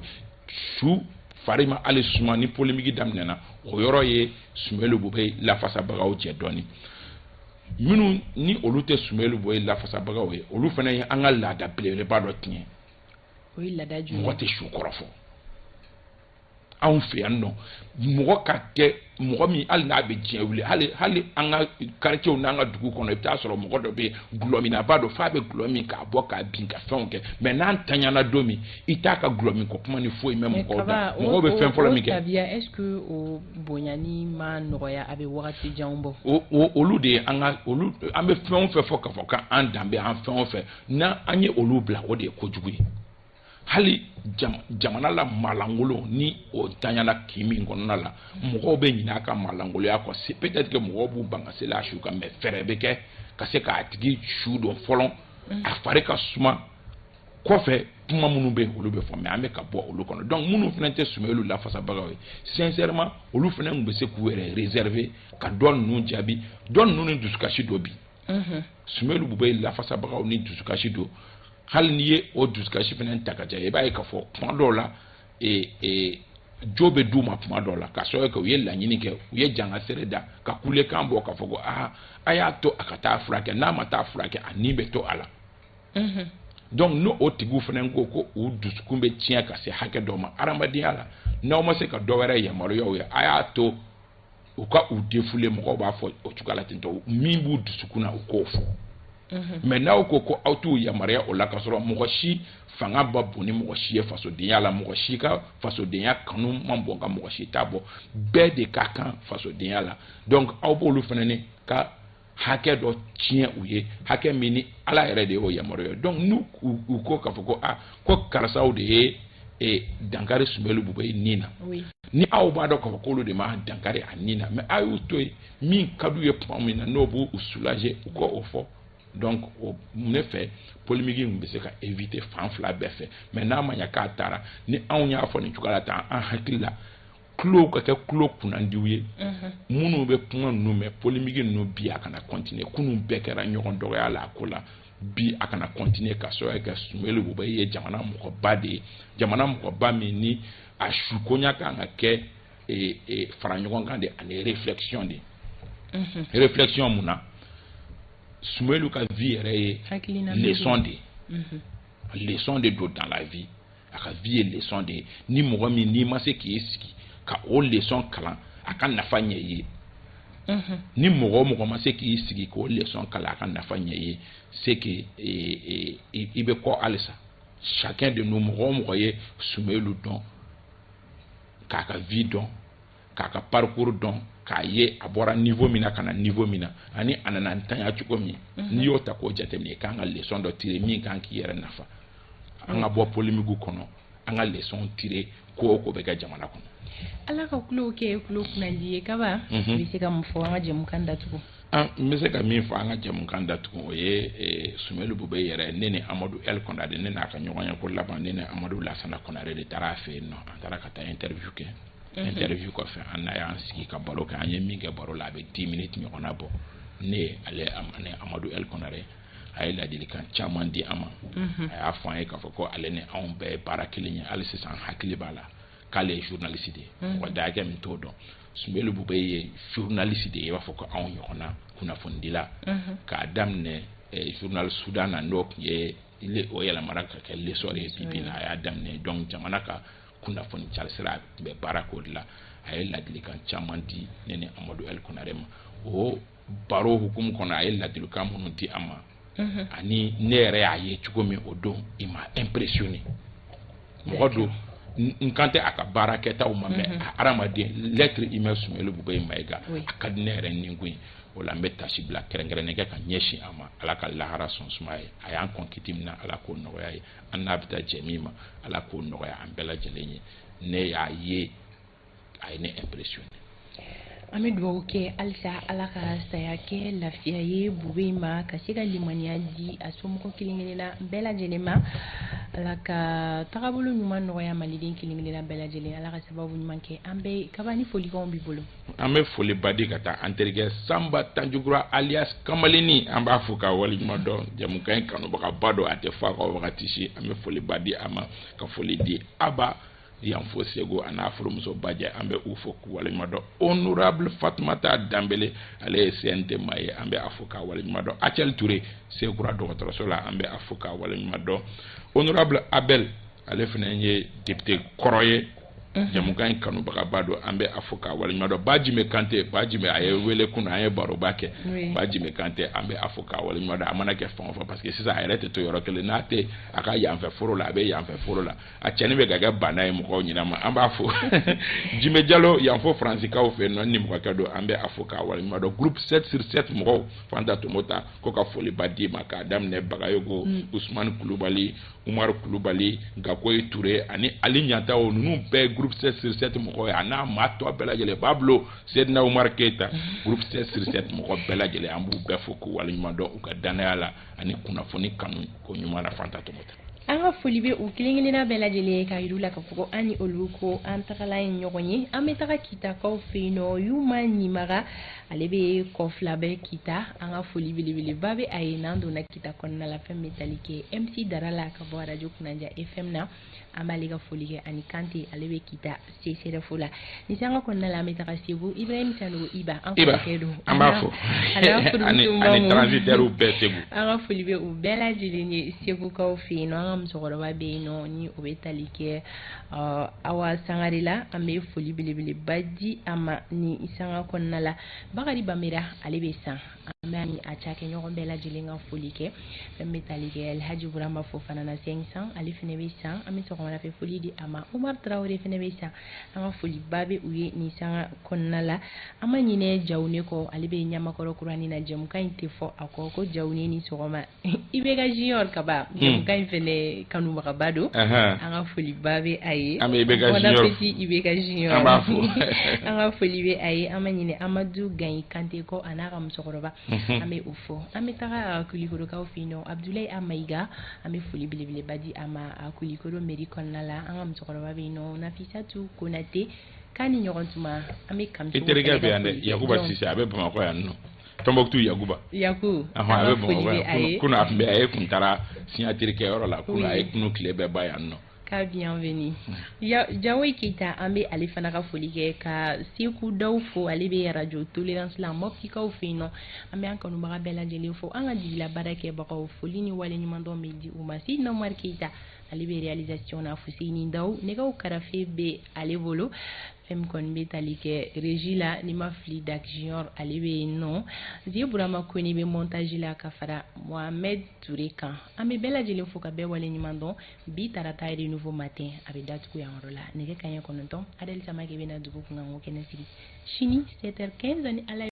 su fari ma hali suma ni polémique daminɛna o yɔrɔ ye soumeylou boubèye lafasabagaw cɛ dɔɔnin minnu ni olu tɛ soumeylou boubèye lafasabagaw ye olu fana ye an ka laada belebeleba dɔ tiɲɛ o ye laada jumɛn mɔgɔ tɛ su kɔrɔfɔ anw fɛ yan nɔ mɔgɔ ka kɛ mɔgɔ min hali n'a bɛ diɲɛ wuli hali hali an ka quartierw n'an ka dugu kɔnɔ i bɛ taa sɔrɔ mɔgɔ dɔ bɛ gulɔminnaba don f'a bɛ gulɔ min k'a bɔ k'a bin ka fɛnw kɛ mais n'a tanyana don min i t'a ka gulɔ min ko kuma ni foyi mɛn mɔgɔw da mɔgɔw bɛ fɛn fɔlɔ min kɛ tabiya est ce que o bonyani ma nɔgɔya a bɛ wagati janw bɔ olu de ye an ka olu an bɛ fɛn o fɛn fɔ k'a fɔ k'an danbe an fɛn o fɛn n'an ye olu bila o de ye kojugu ye hali jamana la maalankolon ni o tanyala kin min kɔnɔna la mɔgɔw bɛ ɲinɛ a ka maalankolonya kɔ se peut-être que mɔgɔw b'u ban ka seli a su kan mais fɛɛrɛ bɛ kɛ ka se k'a tigi su don fɔlɔ mm. a fari ka suma kɔfɛ kuma minnu bɛ yen olu bɛ fɔ mais an bɛ ka bɔ olu kɔnɔ donc minnu fana tɛ soumeylou lafasabagaw ye sincèrement olu fana tun bɛ se k'u yɛrɛ réserver ka dɔ ninnu jaabi dɔ ninnu ni dusukasi don bi sumelu bubɛyi lafasabagaw ni dusukasi don hali n'i ye o dusukasi fana ta k'a jɛ i b'a ye k'a fɔ kuma dɔw la ee ee jo bɛ d'u ma kuma dɔw la k'a sababu kɛ u ye laɲini kɛ u ye jangasere da ka kulekan bɔ k'a fɔ ko aa a y'a to a ka taa furakɛ n'a ma taa furakɛ a ni bɛ to a la donc n'o o tigiw fana ko ko u dusukun bɛ tiɲɛ ka se hakɛ dɔ ma hadamadenya la n'aw ma se ka dɔ wɛrɛ yamaruya u ye a y'a to u ka u défouler mɔgɔw b'a fɔ o cogoya la ten tɔ min b'u dusukun na u k'o fɔ mhm. mais n'aw ko ko aw t'u yamaruya o la k'a sɔrɔ mɔgɔ si fanga man bon ni mɔgɔ si ye fasodenya la mɔgɔ si ka fasodenya kanu man bon ka mɔgɔ si ta bɔ bɛɛ de ka kan fasodenya la donc aw b'olu fana ni ka hakɛ dɔ tiɲɛ u ye hakɛ min ni ala yɛrɛ de y'o yamaruya u ye donc n'u u ko k'a fɔ ko a ah, ko karisaw de ye e, dankari sumelu bubɛyi ni na ni aw b'a dɔn k'a fɔ k'olu de ma dankari a ni na mais a y'u to yen min ka d'u ye tuma min na n'o b'u u soulager u ka o fɔ donc o ne fɛ polémique in bɛ se ka éviter fan fila bɛɛ fɛ mais n'a ma ɲa k'a taara ni anw y'a fɔ nin cogoya la tan an hakili la tulo ka kɛ tulo kunnandiw ye minnu bɛ kuma ninnu mɛn polémique ninnu bi a kana continuer kunun bɛɛ kɛra ɲɔgɔn dɔgɔya la a ko la bi a kana continuer k'a sababu kɛ sumelu bubɛyi ye jamana mɔgɔba de ye jamana mɔgɔba min ni a suko in ka kan ka kɛ e, e, fara ɲɔgɔn kan de ani réflexion de réflexion mun na sumelu ka vie yɛrɛ ye leçon de ye leçon de don dans la vie a ka vie ye leçon de ye ni mɔgɔ min n'i ma se k'i sigi ka o leçon kalan a ka nafa ɲɛ i ye mhm. ni mɔgɔ o mɔgɔ ma se k'i sigi k'o leçon kalan a ka nafa ɲɛ i ye c'est que e, e, i bɛ kɔ halisa chacun de nous mɔgɔ o mɔgɔ ye sumelu dɔn k'a ka vie dɔn k'a ka parcours dɔn k'a ye a bɔra niveau min na ka na niveau min na ani a nana ntanya cogo min mhm. n'i y'o ta k'o jateminɛ i kan ka leçon dɔ tirer min kan k'i yɛrɛ nafa an ka bɔ polémique kɔnɔ an ka leçon tirer ko o ko bɛ kɛ jamana kɔnɔ ala ka tulow kɛ tulo kunnandi ye kaba i mhm. bɛ se ka mun fɔ an ka jɛmukan datugu an ah, n bɛ se ka min fɔ an ka jɛmukan datugu o ye eh, sumelu bubɛyi yɛrɛ ne ni amadu el kɔnare ne n'a ka ɲɔgɔn ye ko laban ne ni amadu lasana kɔnare de taara a fɛ yen nɔ an taara ka taa interview kɛ interview kɔfɛ an n'a y'an sigi ka baro kɛ an ye min kɛ baro la a bɛ dix minutes ɲɔgɔnna bɔ ne ni ale ni amadu el kɔnare a ye ladilikan caman di an ma mhm. a y'a fɔ an ye k'a fɔ ko ale ni anw bɛɛ ye baara kelen ye hali sisan n hakili b'a la k'ale ye journaliste de ye mhm. mɔgɔ da hakɛ min t'o dɔn sumelu bubɛyi ye journaliste de ye i b'a fɔ ko anw ɲɔgɔnna kunnafonidila mhm. k'a daminɛ eh, journal sudan na n'o tun ye o yɛlɛmara ka kɛ l'essor ye bi bi in na a y'a daminɛ donc jamana ka kunnafoni carisira tun bɛ baara k'o de la a ye ladilikan caman di ne ni amadu el konare ma o baro hukumu kɔnɔ a ye ladilikan minnu di an ma mhm. ani ne yɛrɛ y'a ye cogo min o don il m'a impressionné mɔgɔ don n kan tɛ a ka baara kɛtaw ma mais mhm. a hadamaden l'être humain sumeyilu bubɛyi mayiga a ka di ne yɛrɛ ni ko ye o la n bɛ tasibila kɛrɛnkɛrɛnnen kɛ ka ɲɛsin a ma ala ka lahara sɔn suma ye a y'an kɔn kiti min na ala k'o nɔgɔya ye an n'a bɛ taa jɛ min ma ala k'o nɔgɔya an bɛɛ lajɛlen ye ne y'a ye a ye ne impressionné an bɛ dugawu kɛ halisa ala ka saya kɛ lafiya ye bubɛyi ma ka se ka limaniya di a somɔgɔ kelen kelenna bɛɛ lajɛlen ma ala ka tagabolo ɲuman nɔgɔya maliden kelen kelenna bɛɛ lajɛlen ala ka sababu ɲuman kɛ an bɛɛ kabani folikanw b'i bolo an bɛ foliba di ka taa an terikɛ sanba tanjugura alias kamalenni an b'a fo k'a waleɲuman dɔn jamukan in kanubagaba don a tɛ fɔ a kɔ wagati si an bɛ foliba di a ma ka foli di aba yanfo segu a n'a furumuso bajɛ an bɛ u fo k'u waleɲuman dɔn honorable fatumata danbele ale ye cnt maa ye an bɛ a fo k'a waleɲuman dɔn acɛli ture sekura dɔgɔtɔrɔso la an bɛ a fo k'a waleɲuman dɔn honorable abel ale fana ye député kɔrɔ ye mhm. jamukan in kanubagaba don an bɛ a fo k'a waleɲuman dɔn bajime kante bajime a ye wele kunun an ye baroba kɛ bajime kante an bɛ a fo k'a waleɲuman dɔn a mana kɛ fan o fan parce que sisan a yɛrɛ tɛ to yɔrɔ kelen n'a tɛ a ka yanfɛ foro la a bɛ yanfɛ foro la a cɛnni bɛ ka kɛ bana ye mɔgɔw ɲinɛ ma an b'a fo jime jalo yanfo faransikaw fɛ yen nɔ nimɔgɔkɛ don an bɛ a fo k'a waleɲuman dɔn groupe 7 sur 7 mɔgɔw fanta tomota ko ka foliba d'i ma k'a daminɛ bagayogo mm. usumani kulubali umaru kulubali gakoyi ture ani ali ɲantawo ninnu bɛɛ groupe 7 sur 7 mɔgɔ ye a n'a maa tɔ bɛɛ lajɛlen bablo sedina umaru keyita groupe 7 sur 7 mɔgɔ bɛɛ lajɛlen an b'u bɛɛ fo k'u waleɲuman dɔn u ka dannaya la ani kunnafoni kanu ko ɲuman na fanta tomota an ka foli bɛ u kelen kelenna bɛɛ lajɛlen ye k'a yir'u la ka fɔ an ni olu ko an tagala ye ɲɔgɔn ye an bɛ taga kitakaw fɛ yen nɔ yuma ɲimaga ale bɛ kɔfilabɛ kita an ka foli belebeleba bɛ a ye n'an donna kita kɔnɔna la fɛn bɛ tali kɛ mc dara la ka bɔ arajo kunnaja fm na an b'ale ka foli kɛ ani kante ale bɛ kita csref la ni sanga kɔnɔna la an bɛ taga segu ibrahim sanogo iba an kɔrɔkɛ don an b'a fo ani transitaire bɛɛ segu an ka foli bɛ u bɛɛ lajɛlen ye segukaw fɛ yen nɔ an ka musokɔrɔba bɛ yen nɔ ni o bɛ tali kɛ ɔ awa sangare la an bɛ foli belebeleba di a ma ni sanga kɔnɔna la bakari bamera ale bɛ san an bɛ a ni a cakɛɲɔgɔn bɛɛ lajɛlen ka foli kɛ fɛn bɛ tali kɛ alhaji burama fofana na 500 ale fana bɛ san an bɛ sɔgɔmada fɛ foli di a ma umar tarawele fana bɛ san an ka foliba bɛ u ye ni sanga kɔnɔna la an ma ɲinɛ jawune kɔ ale bɛ ɲamakɔrɔ kurani na jɛmukan in tɛ fɔ a kɔ ko jawune ni sɔgɔma IBK junior Kaba jɛmukan hmm. in fɛnɛ kanubagaba don an ka foliba bɛ a ye an bɛ IBK junior IBK junior an b'a fo an ka foli bɛ a ye an ma ɲinɛ Amadu Gayi Kante kɔ a n'a ka musokɔrɔba mhm. an bɛ u fo an bɛ taga Kulikorokaw fɛ yen nɔ Abudulayi A Mayiga an bɛ foli belebeleba di a ma a Kulikoro mairie kɔnɔna la an ka musokɔrɔba bɛ yen nɔ Nafisatu Konate k'a ni ɲɔgɔn tuma an bɛ Kamisoko i terikɛ bɛ yan dɛ Yakuba Sise a bɛ Bamakɔ yan nɔ tombouctou yakuba yaku a bɛ kunun a tun bɛ a ye kun taara siɲatiri kɛ yɔrɔ la kunun a ye kunun tile bɛɛ ban yan nɔ ka bienvenue jawoyi keyita an bɛ ale fana ka foli kɛ ka seku daw fo ale bɛ arajo tolerance la mɔptikaw fɛ yen nɔ an bɛ an kanubaga bɛɛ lajɛlen fo an ka jigila baara kɛbagaw foli ni waleɲumandɔn bɛ di u ma sidina umari keyita ale bɛ realisation na fuseni daw nɛgɛw karafe bɛ ale bolo fɛn min kɔni bɛ tali kɛ regie la n'i ma fili dak junior ale bɛ yen nɔ zie burama kone bɛ montage la ka fara mohamed ture kan an bɛ bɛɛ lajɛlen fo ka bɛɛ waleɲuman dɔn bi tarata ye nouveau matin a bɛ datugu yan yɔrɔ la nɛgɛ kaɲɛ kɔnɔntɔn adɛli samake bɛna dugu kunkan ko kɛnɛ sigi sini 7h15 ni ala